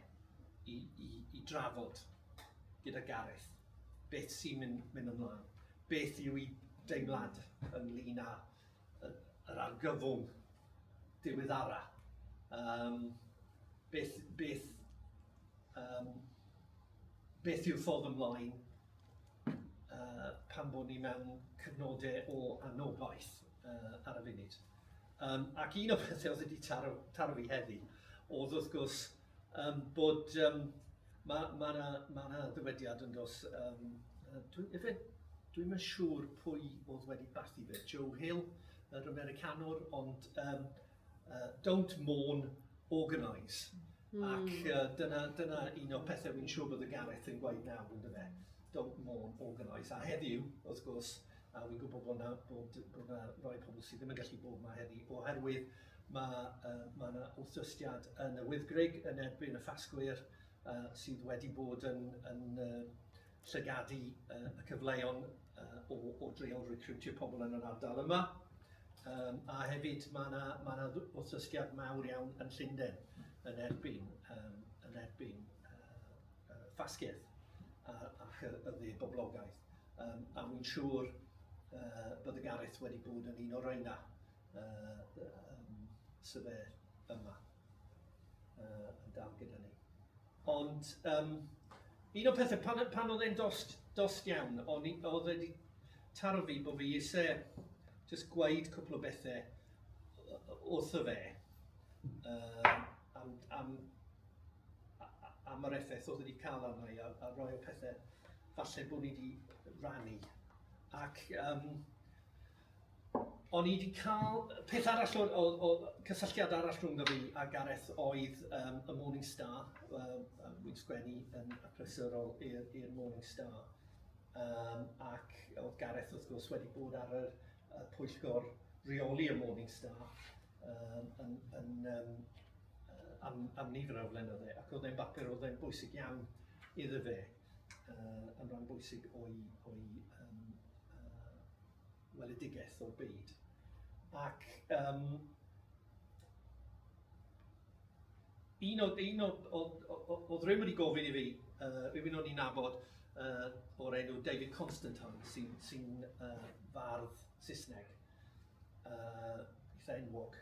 i, i, i drafod gyda Gareth beth sy'n mynd, mynd ymlaen. Beth yw'u deimlad ynglŷn â yr argyfwng diweddara? Yym, beth, beth, um, beth yw'r ffordd ymlaen uh, pan bod ni mewn cyfnodau o anobaith uh, ar y funud? Um, ac un o'r pethau oedd wedi taro, taro fi heddi oedd wrth gwrs Yym bod yym ma' ma' 'na ma' 'na ddywediad yn does yym yy dwi ife dwi'm yn siŵr pwy oedd wedi bathu fe, Joe Hill yr Americanwr ond yym yy don't mourn, organise. Hmm. Ac yy dyna dyna un o'r pethe wi'n siŵr bod y Gareth yn gweud nawr on'd yfe? Don't mourn, organise. A heddiw wrth gwrs a wi'n gwybod bod 'na bod bod 'na rai pobl sydd ddim yn gallu bod 'ma heddi oherwydd Mae mae 'na wrthdystiad yn y Wyddgrug yn erbyn y Ffasgwyr sydd wedi bod yn yn llygadu y cyfleon o o dreial recriwtio pobl yn yr ardal yma yym a hefyd mae 'na mae 'na wrthdystiad mawr iawn yn Llunden yn erbyn yym yn erbyn yy Ffasgedd a ac y y dde boblogaeth yym a wi'n siŵr yy bod y Gareth wedi bod yn un o reina Sa fe yma yn dal gyda ni. Ond um, un o'r pethau, pan, pan oedd e'n dost, dost iawn, o'n i, oedd wedi taro fi bod fi eisiau just gwaed cwpl o bethau wrtho fe uh, am, am, am yr effaith oedd wedi cael arno i a, a roi o pethau falle bod ni wedi rannu. Ac um, O'n i 'di cael... Peth arall oedd oedd oedd... cysylltiad arall rhwng fi a Gareth oedd yym y Morning Star, yym yym wi'n sgwennu yn achlysurol i'r i'r Morning Star yym ac oedd Gareth wrth gwrs wedi bod ar yr y pwyllgor reoli y Morning Star yym yn yn yym yy am am nifer o flynydde ac oedd e'n bapur oedd e'n bwysig iawn iddo fe. yn rhan bwysig o'i, o'i um, uh, weledigaeth o'r byd. Ac um, un o, un o, o, o, o, o ddim wedi gofyn i fi, uh, rhywun o'n i'n nabod uh, o'r enw David Constantine, sy'n sy uh, fardd Saesneg, uh, eitha enwog.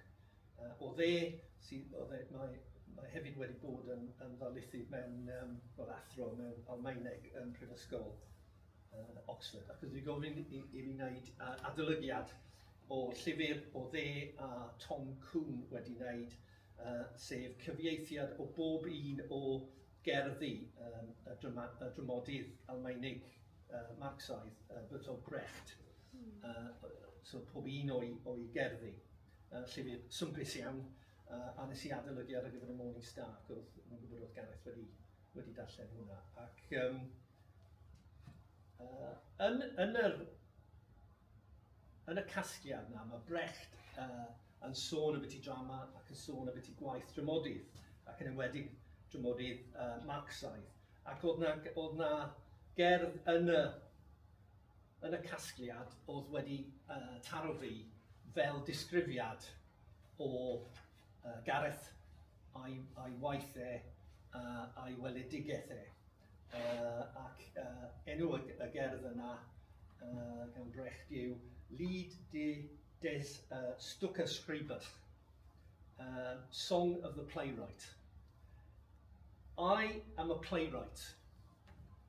Uh, o dde, sydd, o dde, mae, mae hefyd wedi bod yn, yn ddarlithydd mewn, um, fel athro mewn Almaeneg yn Prifysgol uh, Oxford. Ac ydw i gofyn i, i fi wneud uh, adolygiad o llyfr o dde a Tom Coon wedi wneud, uh, sef cyfieithiad o bob un o gerddi um, y, drama, y dramodydd Almaenig uh, Marxaidd, uh, Bertolt Brecht. Uh, so pob un o'i, o'i gerddi. Yy llyfr swmpus iawn, yy a nes i adolygu ar gyfer y Morning Star ac oedd yn gwybod oedd Gareth wedi wedi darllen hwnna ac yym yy yn yn yr yn y casgliad yna mae Brecht yy yn sôn am byti drama ac yn sôn am byti gwaith dramodydd ac yn enwedig dramodydd yy Marxaidd ac oedd na oedd na gerdd yn y Yn y casgliad o'dd wedi taro fi fel disgrifiad o Gareth a'i waith e a'i weledigaeth e ac enw y gerdd yna gan Brecht yw Lied des Stucke-Schreibers, Song of the Playwright. I am a playwright,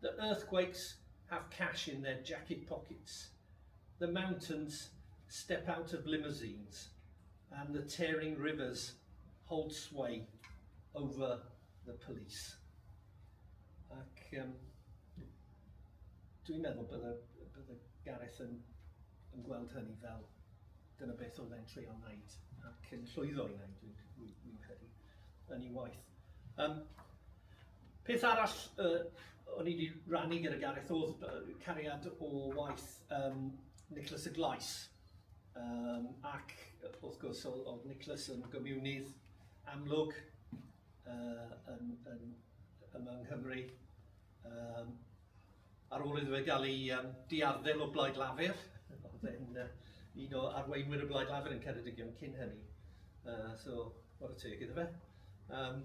The earthquakes have cash in their jacket pockets, the mountains step out of limousines and the tearing rivers hold sway over the police. Ac um, dwi'n meddwl bydde, bydde Gareth yn, yn gweld hynny fel dyna beth oedd e'n treio wneud ac yn llwyddo i wneud, dwi'n credu, yn ei waith. Um, Peth arall yy o'n i wedi rannu gyda Gareth oedd yy cariad o waith yym Nicholas y Glais. Yym ac wrth gwrs oedd, oedd Nicholas yn gomiwnydd amlwg yy yn yn yma yng Nghymru. Yym. Ar ôl iddo fe gael ei um, diarddel o Blaid Lafur, oedd e'n uh, un o arweinwyr y Blaid Lafur yn Ceredigion cyn hynny. Uh, so, o'r y teg iddo fe. Um,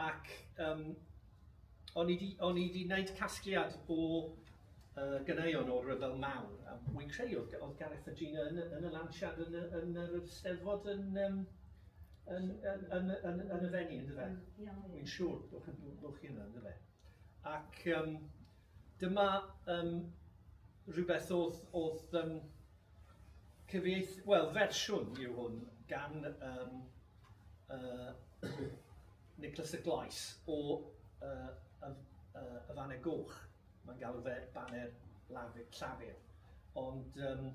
ac um, o'n i wedi gwneud casgliad o uh, gynneuon o'r rhyfel mawr. A wy'n credu oedd, oedd Gareth a Gina yn, yn y lansiad yn, yn, yn yr ysteddfod yn, um, yn, yn, yn, yn, yn, yn y fenni, ynddo fe? Wy'n siŵr bod chi'n bod chi yna, ynddo fe? Ac um, dyma um, rhywbeth oedd, oedd um, cyfieith, wel, fersiwn yw hwn gan um, uh, Nicholas y Glais o uh, y, uh, y Faner Goch. Mae'n galw fe Baner Lafur, Llafur. Ond um,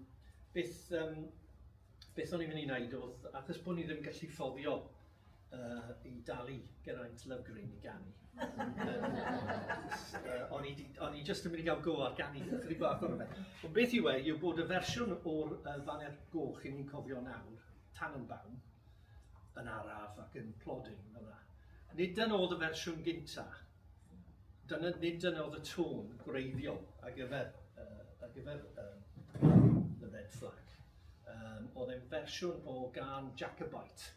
beth, um, beth o'n i'n mynd i wneud oedd, achos bod ni ddim gallu ffoddio uh, i dalu Geraint Lygrin i ganu. o'n i, on i just yn mynd i gael go ar ganu, chydig bach o'r fe. Ond beth yw e, yw bod y fersiwn o'r uh, faner goch i ni'n cofio nawr, tan yn bawn, yn araf ac yn plodyn yna. Nid yn oedd y fersiwn gynta, dyna nid yn oedd y tôn gwreiddiol ar gyfer, uh, ar gyfer um, The Red Flag. Um, oedd e'n fersiwn o gan Jacobite,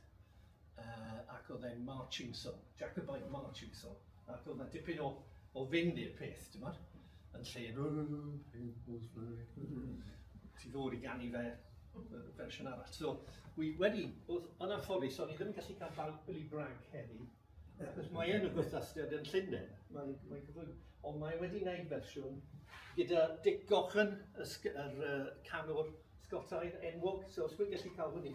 yy ac oedd e'n marching song, Jacobite marching song, ac oedd yna dipyn o, o fynd i'r peth, ti'n bod? Yn lle, ti ddod i gannu fe fersiwn arall. So, wi wedi, oedd yn anffodus, o'n i ddim yn gallu cael bawb Billy Bragg heddi, achos mae e'n y gwrthastiad yn Llundain, mae'n mae gyflwyn, ond mae wedi gwneud fersiwn gyda Dick Gochen, y, yr uh, canwr Scottaidd enwog, so os wy'n gallu cael hwnni,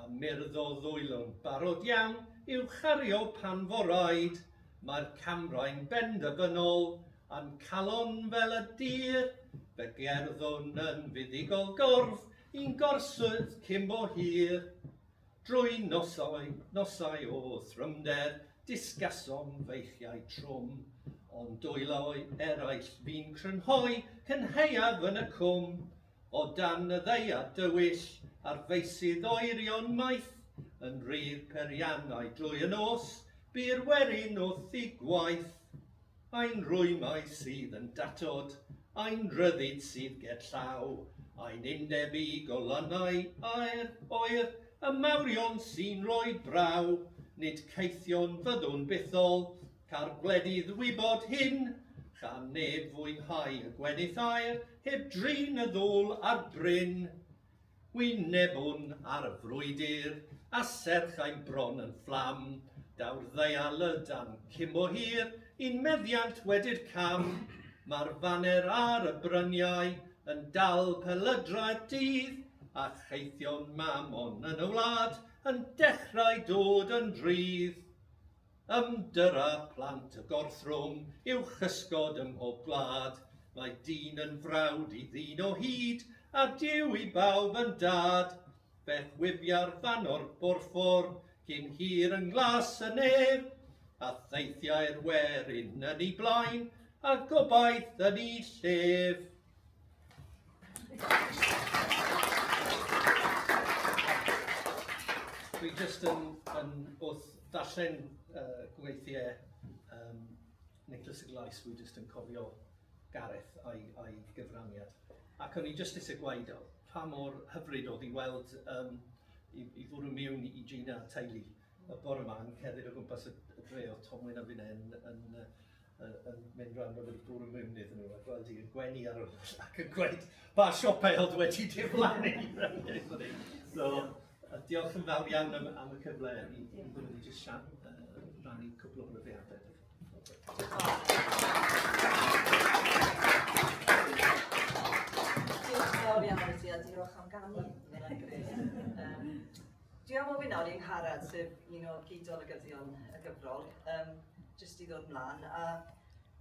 a myrddau ddwylo'n barod iawn i'w chario pan fo raid, mae'r camrau'n benderfynol, a'n calon fel y dyr, fe gerddwn yn fuddugol gorff i'n gorswyrdd cyn bo hir. Drwy nosau, nosau o thrymder, disgasom feichiau trwm, ond dwylo'i eraill fi'n crynhoi cynhaeaf yn y cwm, O dan y ddaear dywyll a'r feysydd oerion maith, Yn rhydd periannau drwy y nos, bu'r werin wrth i gwaith. Ein rwymau sydd yn datod, ein rhyddid sydd ger llaw, Ein undeb i golannau aer oer, y mawrion sy'n rhoi braw, Nid caethion fyddwn bythol, Ca'r gwledydd wybod hyn, cha neb fwynhau y gwenith air, heb drin y ddwl a'r bryn. Wynebwn ar y frwydr, a serch ein bron yn fflam, daw'r ddeial y dan cymbo hir, i'n meddiant wedi'r cam, mae'r faner ar y bryniau, yn dal pelydrau'r dydd, a cheithion mamon yn y wlad, yn dechrau dod yn rhydd. Ymddyra plant y gorthrwm yw chysgod ym mhob gwlad, Mae dyn yn frawd i ddyn o hyd, a Duw i bawb yn dad. Fe chwifia'r fan o'r borffor cyn hir yn nglas y nef, A theithiai'r werin yn 'i blaen, a gobaith yn 'i llef. Dwi jyst yn, yn wrth ddarllen uh, gweithiau um, Nicholas y Glais, dwi jyst yn cofio Gareth a'i, a'i gyfraniad. Ac o'n i jyst eisiau gwaed pa mor hyfryd oedd i weld um, i, i fwrw miwn i Gina a teulu y bore yma yn cerdded o gwmpas y, y dre oedd Tomwyn a finnau yn, yn, yn, yn, yn mynd rhan bod y bwrw mwyn iddyn nhw a gweld i'r gwenu ar ôl ac yn gweud ba siopau oedd wedi diflannu. so, diolch yn fawr iawn am, am y cyfle i, i fod wedi jyst siarad, uh, rannu cwbl o brofiadau. Diolch yn fawr iawn i ti a diolch am ganu. Dwi am ofyn ar un harad, sef un o gyd-olygyddion y gyfrol, um, jyst i ddod mlaen, a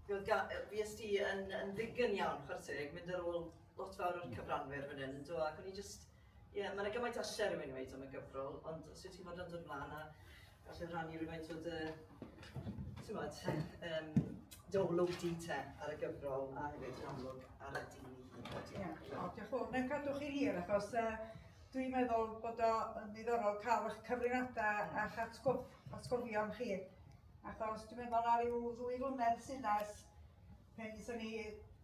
fi ys ti yn, yn ddigon iawn, chwrs teg, mynd ar ôl lot fawr o'r cyfranwyr fan hyn, do, ac o'n i jyst, ie, yeah, mae'n gymaint asher rhywun wedi am y gyfrol, ond os wyt ti'n fod yn dod mlaen, a Falle rannu rhywfaint o dy, tywed, um, dy olwg di te ar y gyfrol a hefyd yn amlwg ar y dyn i hyn. Ie, diolch yn fawr. Mae'n cadw chi hir achos uh, dwi'n meddwl bod o'n ddiddorol cael eich cyfrinadau a'ch atgof, atgofion chi. Achos dwi'n meddwl ar ryw ddwy flynedd sy'n nes, pen i ni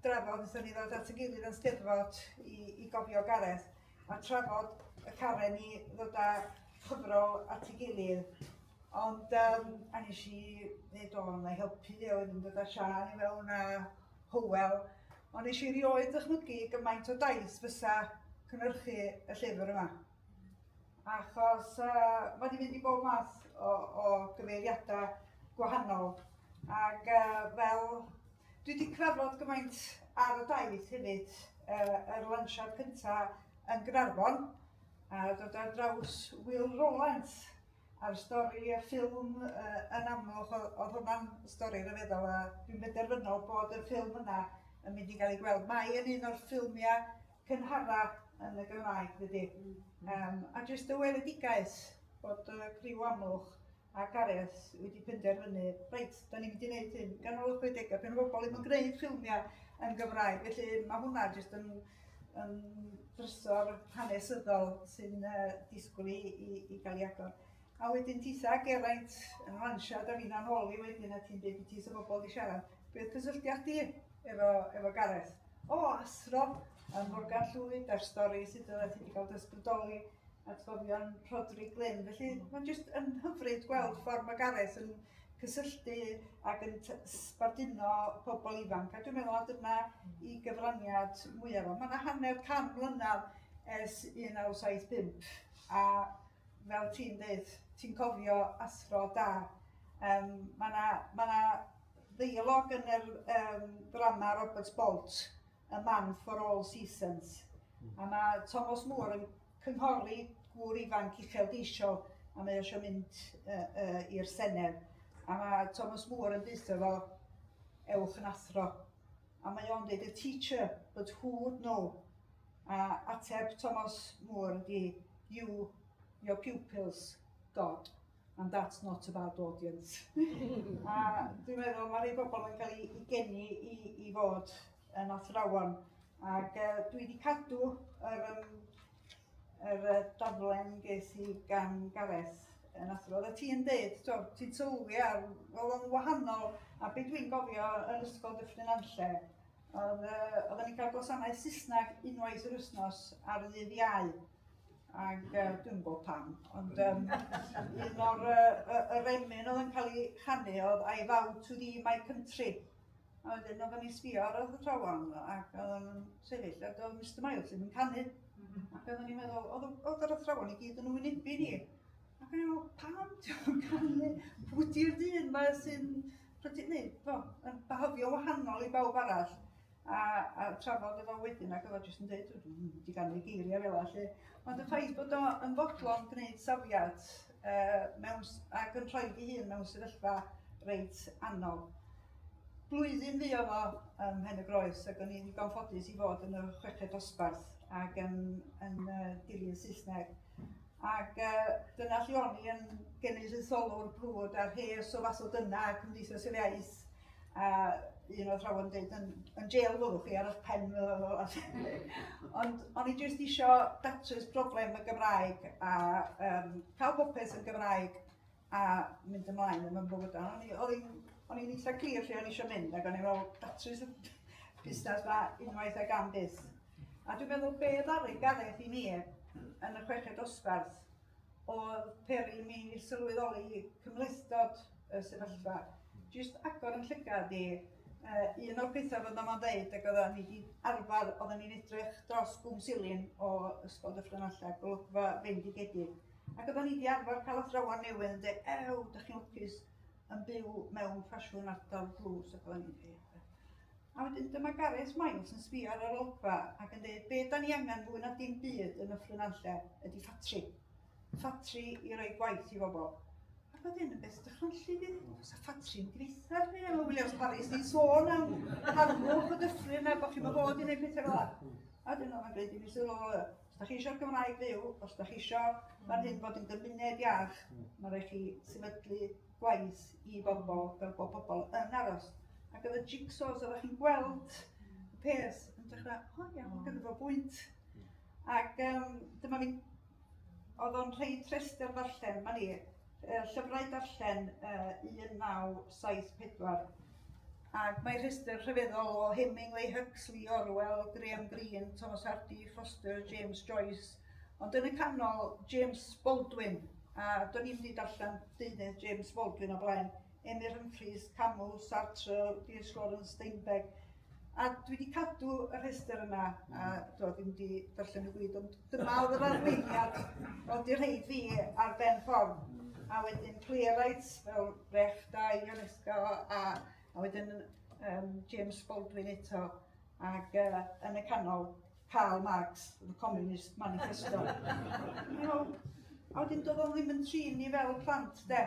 drafod, nes ni ddod at y gilydd yn steddfod i, i gofio Gareth. a trafod y carreg i ddod â chyfrol at ei gilydd. Ond um, a nes i ddeud, o, na i helpu, a oedd yn dod â Sian i fewn a Howell. Ond nes i rioed ddychmygu gymaint o daith fysa cynhyrchu y llyfr yma. Achos uh, mae wedi mynd i bob math o, o gyfeiriadau gwahanol. Ac uh, fel Dwi 'di trafod gymaint ar y daith hefyd, yy yr lansiad cynta yn Gaernarfon, a dod ar draws Will Rowlands a'r stori a ffilm yy yn Amlwch, oedd oedd hwnna'n stori ryfeddol a dwi'n benderfynol bod y ffilm yna yn mynd i gael ei gweld. Mae yn un o'r ffilmiau cynhara yn y Gymraeg dydi? Yym a jyst y weledigaeth bod y criw Amlwch a Gareth wedi penderfynu, reit, da ni'n mynd i wneud hyn, ganol y 60au, pen o bobl ddim yn gwneud ffilmiau yn Gymraeg, felly mae hwnna jyst yn, yn drysor hanesyddol sy'n uh, disgwyl i, i, i gael ei agor. A wedyn titha Geraint yn ransiau, da fi'n anholi wedyn a ti'n dweud beth ti'n bobl wedi siarad. Beth cysylltiad di efo, efo Gareth? O, asro, a Morgan Llwyd a'r stori sydd wedi cael dysbrydoli. atgofion Rhodri Glyn. Felly mm. mae'n jyst yn hyfryd gweld mm. ffordd mae Gareth yn cysylltu ac yn sbarduno pobl ifanc. A dwi'n meddwl a dyna mm. i gyfraniad mwyaf o. Mae yna hanner can mlynedd ers 1975 a fel ti'n dweud, ti'n cofio athro da. Um, mae yna ma ddeialog yn yr um, drama Robert Bolt a man for all seasons. A mae Tomos Moore yn cynghori gŵr ifanc uchelgeisiol a mae eisiau mynd uh, uh, i'r Senedd. A mae Thomas Moore yn dweud efo ewch yn athro. A mae o'n dweud, a teacher, but who would know? A ateb Thomas Moore ydi, you, your pupils, God. and that's not a bad audience. a dwi'n meddwl mae rhai bobl yn cael ei geni i, i fod yn athrawon. Ac uh, dwi wedi cadw yr, um, yr uh, daflen ges i gan Gareth yn athro. Oedda ti'n dweud, ti'n sylwi ar, fel o'n wahanol, a beth dwi'n gofio yn ysgol Dyffryn Anlle, oedd, uh, oedden ni'n cael gwasanaeth Saesneg unwaith yr wythnos ar ddydd iau. Ac uh, dwi'n gwybod pam, ond um, un o'r uh, yr emyn oedd yn cael ei chanu oedd I vow to thee my country. A wedyn oedd yn sbio ar y athrawon ac oedd yn sefyll ac oedd Mr Miles yn canu. Mhm. Ac oedd yn meddwl, oedd yr athrawon i gyd yn wynebu ni. Ac oedd yn meddwl, pam ti'n canu? Pwy di'r dyn mae sy'n... Pwy di'r dyn? Bo, yn bahofio wahanol i bawb arall. a, a trafod efo wedyn ac oedd o jyst yn dweud, dwi'n mynd i ganol geiriau fel allu. Ond y ffaith bod o'n fodlon gwneud safiad uh, mewn, ac yn rhoi i hun mewn sefyllfa reit anodd. Blwyddyn fi oedd o ym Mhen y Groes ac o'n i'n ddigon ffodus i fod yn y chweched dosbarth ac yn, yn uh, dilyn Saesneg. Ac uh, dyna lle o'n i yn genedlaetholwr brwd a rhes o fath o dyna Cymdeithas yr Iaith. A un oedd rhawn yn dweud, yn, yn jail fwrwch chi ar eich pen. Ond o'n i jyst eisiau datrys broblem y Gymraeg a um, cael popeth yn Gymraeg a mynd ymlaen yn fy mywyd. O'n i'n eitha clir lle o'n eisiau mynd, ac o'n i'n meddwl, datrys y busnes ma unwaith ag am byth. A dwi'n meddwl be ddaru Gareth i mi yn y chweched osbarth oedd peri mi sylweddoli cymlethdod y sefyllfa. Just agor yn llygad i uh, un o'r pethau fod yma'n dweud ac oedden ni wedi arfer, oedden ni'n edrych dros gwm silin o Ysgol Dyffryn Alla, golygfa fendigedig. Ac oeddan ni 'di arfer cael athrawon newydd yn dweud, ew, da chi'n lwcus yn byw mewn ffasiwn ardal dlws ac oeddan ni'n dweud. A wedyn dyma Gareth Miles yn sbio ar yr olygfa ac yn dweud, be da ni angen fwy na dim byd yn y ffrynanlle ydy ffatri. Ffatri i roi gwaith i bobl. Ac oedd hyn yn beth dychmygu fi, os a ffatri yn gweitha fi, a mae Williams Paris di sôn am harfwch y dyffryn a bod chi'n bod i wneud pethau fel yna. A dyn nhw'n gwneud i fi sylw, Os da chi eisiau'r Gymraeg fyw, os da chi eisiau fan hyn fod yn gymuned iach, mae rhaid chi sefydlu gwaith i bobl fel bod pobl yn aros. Ac oedd y jigsaws oedd chi'n gweld y peth yn dechrau, o oh, iawn, gyda fo bwynt. Ac um, dyma fi, oedd o'n rhoi trester ddarllen, mae ni, uh, llyfrau darllen uh, 1974, Ac mae rhestr rhyfeddol o Hemingway, Huxley, Orwell, Graham Greene, Thomas Hardy, Foster, James Joyce. Ond yn y canol, James Baldwin, a do'n i'n mynd allan deunydd James Baldwin o blaen, Emyr Humphreys, Camus, Sartre, D.S. Lawrence, Steinbeck. A dwi wedi cadw y rhestr yna, a dwi ddim wedi darllen y gwyd, ond Dyma oedd yr arweiniad, ond i'r rhaid fi ar ben ffordd. A wedyn Clearites fel Brecht da, Ionesco a, a wedyn um, James Baldwin eto. Ac uh, yn y canol, Karl Marx, The Communist Manifesto. you know, a wedyn doedd o'n ddim yn trin ni fel plant, de.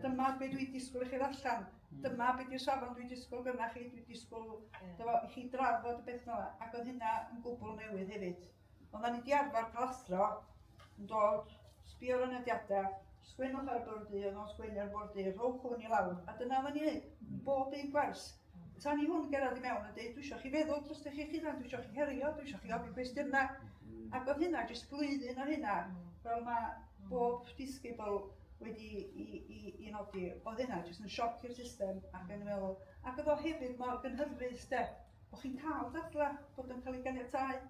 Dyma beth dwi'n disgwyl i chi ddarllen. Hmm. Dyma beth yw'r safon dwi'n disgwyl gyda chi, dwi'n disgwyl yeah. chi drafod y beth yma. Ac oedd hynna yn gwbl newydd hefyd. Ond da ni wedi arfer cael athro yn dod, sbio ar y nodiadau, sgwennwch ar y bwrdd du, oedd o'n sgwennu ar y bwrdd du, rhowch hwn i lawr, a dyna oedden ni'n neud, bob un gwers. Tan i hwn gerad i mewn a dweud, dwi eisiau chi feddwl dros eich chi dan, dwi eisiau chi herio, dwi eisiau chi ofyn cwestiynau. Ac oedd hynna, jyst blwyddyn ar hynna, fel mae bob disgybl wedi i, i, i nodi, oedd hynna jyst yn sioc i'r system ac yn meddwl. Ac oedd o hefyd mor gynhyrfus, de. Bod chi'n cael dadlau, bod yn cael ei ganiatáu,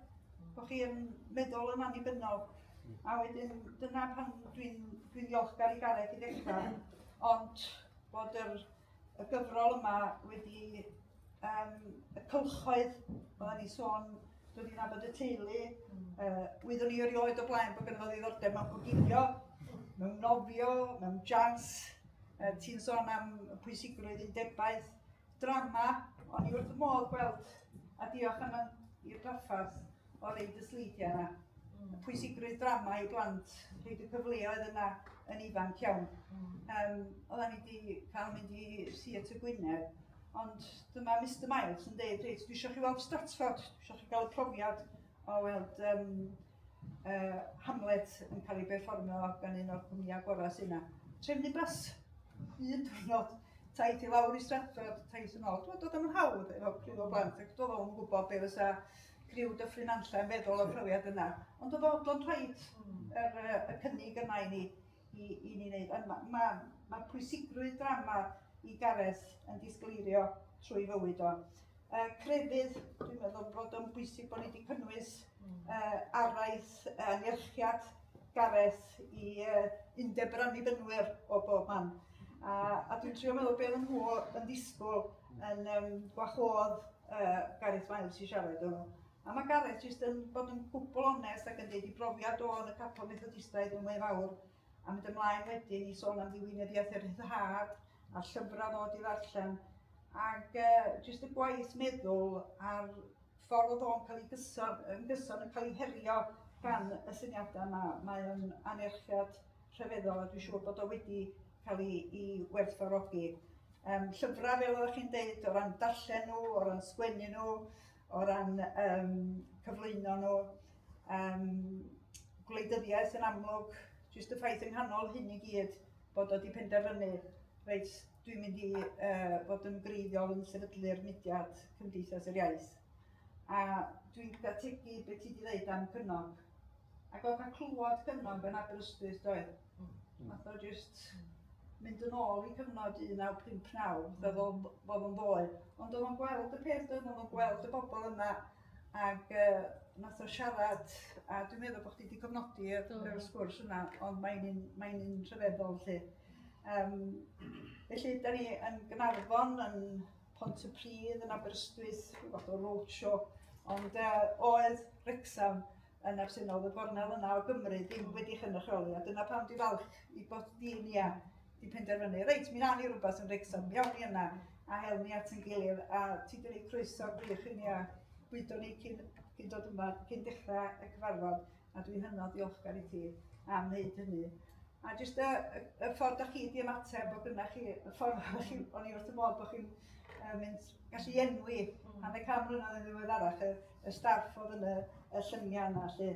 bod chi'n meddwl yn annibynnol. Hmm. A wedyn, dyna pan dwi'n dwi ddiolchgar i Gareth i ddechrau, ond bod yr, y gyfrol yma wedi um, y cylchoedd, oedden ni sôn, dod i'n abod y teulu, uh, wyddwn ni erioed o blaen bod gynnu ddiddordeb mewn cogilio, mewn nofio, mewn jans, uh, ti'n sôn am pwysigrwydd undebaeth, Drama, o'n i wrth fy modd gweld, a diolch am i'r draffarth o reid y sleidiau yna. Mm. Pwysigrwydd drama i blant, rhaid y cyfleoedd yna yn ifanc iawn. Mm. Um, Oedden ni wedi cael mynd i Theatr Gwynedd, ond dyma Mr Miles yn dweud, reit, dwi eisiau chi weld Stratford, dwi eisiau chi gael y profiad o weld um, uh, Hamlet yn cael ei berfformio gan un o'r cwmnïau gorau sy'n yna. Trefnu bus, un diwrnod, taith i lawr i Stratford, taith yn ôl. Dwi'n dod am yn hawdd efo criw o blant, ac doedd o'n gwybod be fysa criw dyffryn anlla yn feddwl o'r profiad yna. Ond oedd o'n rhaid hmm. yr, y cynnig yna i ni, i, i ni wneud. Ond mae ma, ma pwysigrwydd drama i Gareth yn disgleirio trwy fywyd o. uh, crefydd, dwi'n meddwl bod o'n bwysig bod ni wedi cynnwys uh, araith uh, nerchiad Gareth i uh, undeb yr annibynnwyr o bob man. A, a dwi'n trio meddwl beth yn nhw yn ddisgwyl yn um, gwahodd uh, Gareth Miles i siarad o'n nhw. A mae Gareth jyst yn bod yn gwbl onest ac yn dweud i brofiad o yn y capel methodistaidd yn mwy fawr a mynd ymlaen wedyn i sôn am ddiwinyddiaeth yr rhyddhad a'r llyfrau ddod i ddarllen ac uh, jyst y gwaith meddwl a'r ffordd oedd o'n cael ei gyson, yn gyson yn cael ei herio gan y syniadau yma. Mae o'n anerchiad rhyfeddol a dwi'n siŵr bod o wedi cael ei, ei werthfawrogi. Um, llyfrau, fel oeddech chi'n deud, o ran darllen nhw, o ran sgwennu nhw, o ran um, cyflwyno nhw. Um, gwleidyddiaeth yn amlwg, jyst y ffaith yng nghanol hyn i gyd bod wedi penderfynu, reit, dwi'n mynd i uh, fod yn greiddiol yn sefydlu'r mudiad Cymdeithas yr Iaith. A dwi'n gyda tegu beth ti wedi dweud am cynog. Ac oedd cael clywed cynog yn Aberystwyth doedd? Fath o jyst mynd yn ôl i cyfnod 1959, fel o'n bod o'n ddoe. Ond o'n o'n gweld y peth oedd o'n gweld y bobl yma ac uh, nath o siarad, a dwi'n meddwl bod chdi wedi cofnodi yr, yr sgwrs yna, ond mae'n un, mae un rhyfeddol lle. Um, felly, da ni yn Gynarfon, yn Pont y Pridd, yn Aberystwyth, rhywbeth o roadshow, ond uh, oedd Rexham yn absennol, y gornel yna o Gymru ddim wedi chynrychioli, a dyna pam di falch i bod di ni a di penderfynu, reit, mi na ni rhywbeth yn Rexham, mi awn ni yna, a hel ni at yn gilydd, a ti di rei croeso gwych i ni a bwydo ni cyn, cyn dod yma, cyn dechrau y cyfarfod, a dwi'n hynod ddiolchgar i ti am wneud hynny. A jyst y, y, y ffordd da chi di ymateb bod gyda chi, y ffordd da chi, o'n i wrth y modd bod chi'n uh, mynd gallu enwi mm. hanner cam mlynedd yn ddiweddarach, y staff oedd yn y y llynia yna 'lly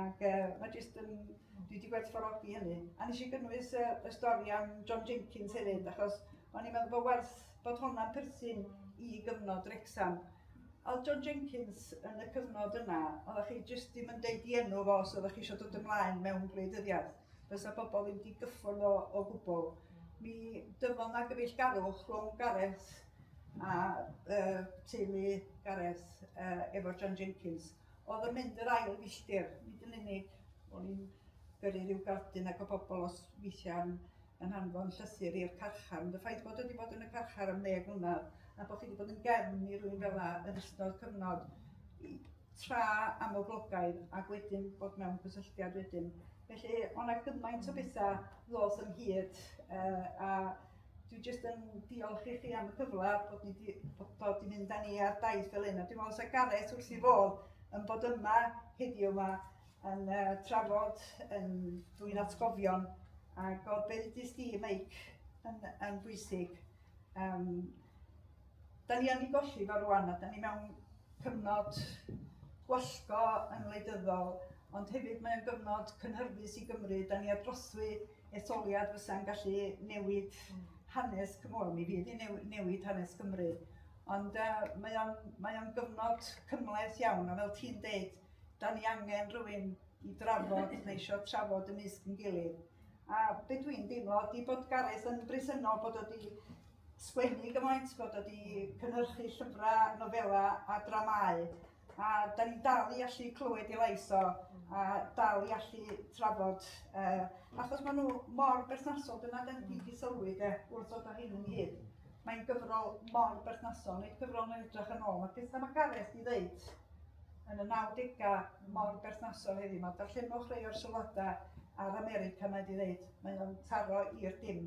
ac yy ma' jyst yn... dwi 'di gwerthfawrogi hynny. A nes i gynnwys y y stori am John Jenkins hefyd achos o'n i'n meddwl bod werth bod honna'n perthyn i gyfnod Wrecsam. O'dd John Jenkins yn y cyfnod yna, oeddech chi jyst ddim yn deud 'i enw fo os oeddech chi eisiau dod ymlaen mewn gwleidyddiaeth. Fysa bobl ddim wedi gyffwrdd o o gwbl. Mi dyfod 'na gyfeillgarwch rhwng Gareth a uh, teulu Gareth uh, efo John Jenkins, oedd yn mynd yr ail filltir, nid yn unig o'n i'n gyrru rhyw gardyn ac o bobl os weithiau'n yn anfon llythyr i'r carchar, ond y ffaith bod wedi bod yn y carchar am ddeg mlynedd a bod chi wedi bod yn gefn i rwy'n fel yna yn ystod cyfnod i, tra am oglogaidd ac wedyn bod mewn cysylltiad wedyn. Felly, o'na gymaint o bethau ddoth yn hyd uh, a dwi jyst yn diolch i chi am y cyfle bod ni di, bod, bod i fynd â ni ar daith fel hyn. A dwi'n meddwl sa Gareth wrth i fod yn bod yma heddiw yma yn uh, trafod yn dwi'n atgofion a gofbeiddus di, Meic, yn, yn bwysig. Um, Da ni wedi golli fo rwan a da ni mewn cyfnod gwallgo yn wleidyddol, ond hefyd mae'n gyfnod cynhyrfus i Gymru. Da ni ar drothwy etholiad fysa'n gallu newid hanes, wel mi fydd hi'n newid hanes Cymru. Ond uh, mae o'n mae o'n gyfnod cymhleth iawn, a fel ti'n deud, da ni angen rhywun i drafod, neu eisiau trafod ymysg yn gilydd. A be dwi'n deimlo ydy bod Gareth yn bresennol bod o wedi sgwennu gymaint, bod o wedi cynhyrchu llyfrau, nofelau a dramau. A da ni'n dal i allu clywed i lais o, a dal i allu trafod. Uh, achos maen nhw mor berthnasol, dyna da ni wedi sylwi de, wrth ddod o hyn yn hyn. Mae'n gyfrol mor berthnasol, nid gyfrol yn edrych yn ôl. Mae pethau mae Gareth i ddeud yn y 90au mor berthnasol heddiw. Mae darllenwch rei o'r sylwadau ar America mae wedi ddeud. Mae'n taro i'r dim.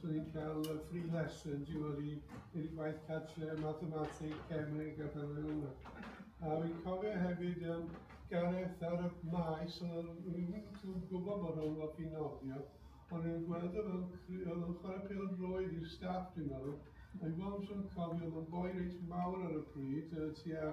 So ni'n cael uh, free lessons i fod i'r gwaith cartre, mathematig, cemig a fel yna. A fi'n cofio hefyd um, Gareth ar y maes, oedd rwy'n gwybod bod o'n lot i nofio, ond yn gweld o fel oedd o'n chwarae pel roedd i'r staff dwi'n meddwl, a i fod yn cofio oedd o'n boi reit mawr ar y pryd, uh, tua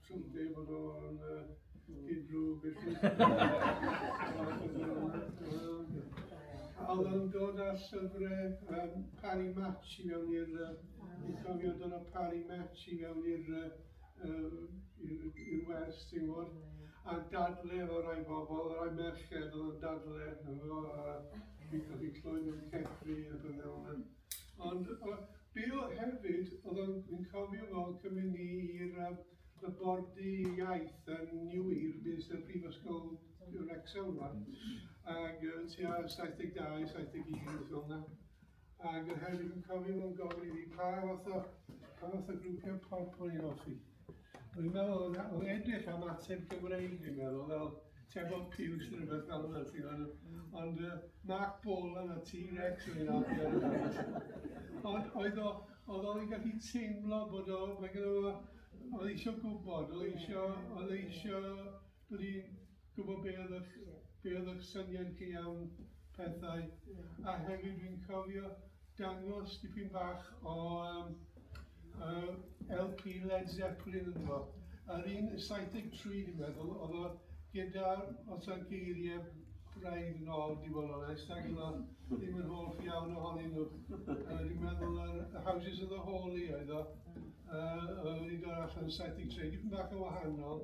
Swnte bod o'n unrhyw busnes. Oedd o'n dod â llyfrau um, Parry Match i fewn i'r... Dwi'n cofio dod â Parry Match i fewn i'r i'r wers, ti'n gwybod. A dadle o rai bobl, o rai merched oedd yn dadle. Dwi'n cofio clywed nhw'n cefri a beth fel yna. Ond yy Bill hefyd o'dd o'n fi'n cofio fo yn cymryd ni i'r yy y borddy iaith yn New Year bys y prifysgol yy Wrecsam rŵan ag yy tua saith deg dau saith deg un rwbeth fel 'na ag yy hefyd fi'n cofio fo'n gofyn i fi pa fath o pa fath o grwpia' pop o'n i'n offi. Dwi'n meddwl yn o edrych am ateb Gymreig, dwi'n meddwl, fel Tebon Piws neu rhywbeth fel yna, ti'n gwybod. Ond uh, Mark Bolan a T-Rex yn un Ond oedd o, oedd o'n gallu teimlo bod o, mae gyda fo, oedd eisiau gwybod, oedd eisiau, oedd eisiau Dw i'n gwybod be oedd eich be oedd eich syniad chi am pethau a hefyd dwi'n cofio dangos dipyn bach o um, uh, LP Led Zeppelin yn ddo. Yr un 73 dwi'n meddwl oedd o gyda os yna geiriau braidd yn ôl di fod o'n est ac yna ddim yn holl iawn ohonyn nhw. Uh, dwi'n meddwl yr uh, Houses of the Holy oedd o. Uh, oedd wedi dod allan yn 73, dipyn bach yn wahanol.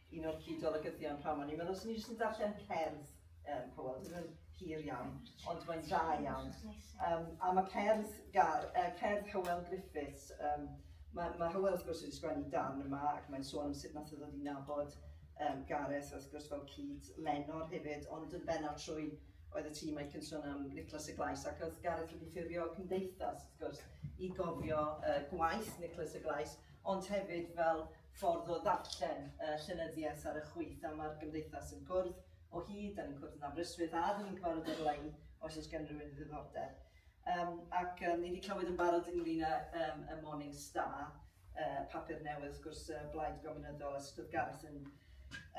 Un o'r cyd-olygyddion p'nawn 'ma. Ni'n meddwl, 'swn i jyst yn darllen cerdd um, Powell, ddim yn hir iawn, ond mae'n dda iawn. Um, a mae cerdd, gar, uh, cerdd Hywel Griffiths, um, mae, mae Hywel wrth gwrs wedi sgwennu dan yma ac mae'n sôn am sut nath o ddod i nabod um, Gareth wrth gwrs fel cyd Lenor hefyd, ond yn benna trwy oedd y tîm a'i cynson am Nicholas y Glais ac oedd Gareth wedi ffurfio cymdeithas wrth gwrs i gofio uh, gwaith Nicholas y Glais, ond hefyd fel ffordd o ddarllen y llenyddiaeth ar y chwith a mae'r Gymdeithas yn cwrdd o hyd, da ni'n cwrdd yn Aberystwyth a da ni'n cyfarfod ar-lein os oes gen rhywun ddiddordeb. Um, ac um, ni wedi clywed yn barod ynglyn â um, y Morning Star, uh, papur newydd, wrth gwrs, uh, blaid gominyddol a sut oedd Gareth yn,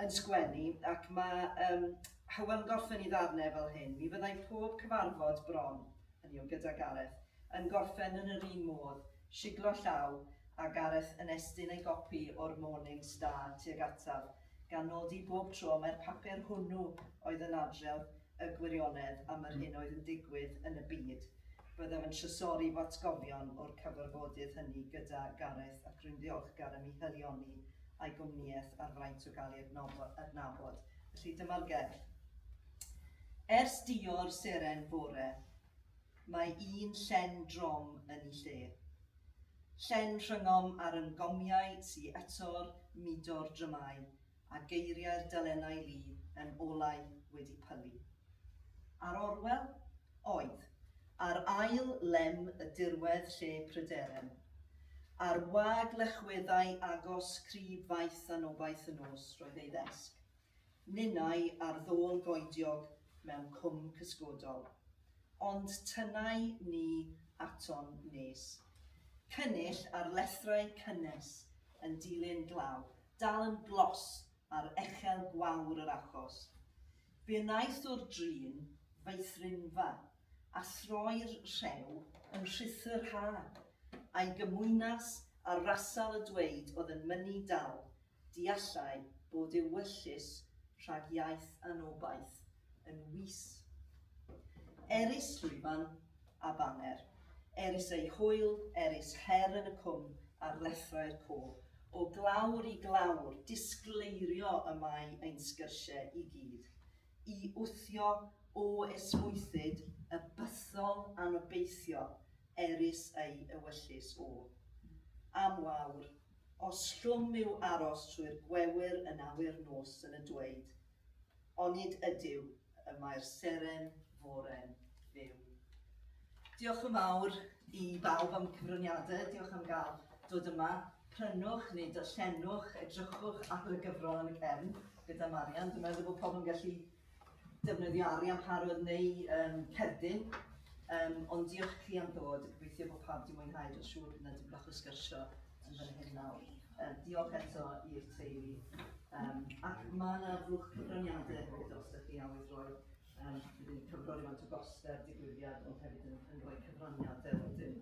yn sgwennu, ac mae um, Hywel yn gorffen i ddarnau fel hyn. Mi fyddai pob cyfarfod bron, hynny yw gyda Gareth, yn gorffen yn yr un modd Siglo llaw, a Gareth yn estyn ei gopi o'r Morning Star tuag ataf, gan nodi bob tro mai'r papur hwnnw oedd yn adrodd y gwirionedd am yr hyn oedd yn digwydd yn y byd. Byddaf yn trysori fy atgofion o'r cyfarfodydd hynny gyda Gareth ac rwy'n ddiolchgar am ei haelioni a'i gwmnïaeth a'r fraint o gael ei adnabod. Felly, dyma'r gerdd. Ers dior seren fore. Mae un llen drom yn i lle. Llen rhyngom ar yn gomiau sy eto'r mudo'r drymau a geiriau'r delennau lu yn olau wedi pylu. Ar Orwel? Oedd. Ar ail lem y dirwedd lle prydere'n. Ar wag lechweddau agos crib faith anobaith y nos roedd ei ddesg. Ninnau ar ddôl goediog mewn cwm cysgodol. Ond tynnai ni aton nes. Cynnull ar lethrau cynnes yn dilyn glaw, dal yn glos ar echel gwawr yr achos. Be wnaeth o'r drin feithrinfa, a throi'r rhew yn rhuthr ha? A'i gymwynas ar rasal y dweud oedd yn mynnu dal Deallai bod ewyllys rhag iaith anobaith yn wis. Erys llwyfan a baner, erys ei hwyl, erys her yn y cwm ar lethrau'r côr. O glawr i glawr, disgleirio y mae ein sgyrsiau i gyd, i wthio o esmwythyd y bythol anobeithio erys ei ewyllys o. Am wawr. Os llwm yw aros trwy'r gwewyr yn awyr nos yn y dweud, onid ydyw y mae'r seren fore'n fyw? Diolch yn fawr i bawb am y cyfraniadau, diolch am gael dod yma. Prynwch neu darllenwch, edrychwch ar y gyfrol yn y cefn gyda Marian. Dwi'n meddwl bod pobl yn gallu defnyddio arian parod neu um, cerdyn. Um, ond diolch i chi am ddod, gobeithio bod pawb wedi mwynhau, dwi'n siŵr bydd yna dim bach o sgyrsio yn fan hyn nawr. Um, diolch eto i'r teulu. Um, ac mae yna fwch cyfraniadau hefyd os ydych chi awydd roi um, bydd yn cyfro'r yma to goster digwyddiad, ond hefyd yn, yn rhoi cyfraniadau wedyn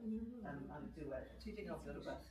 um, ar y diwedd. Ti wedi nofio rhywbeth?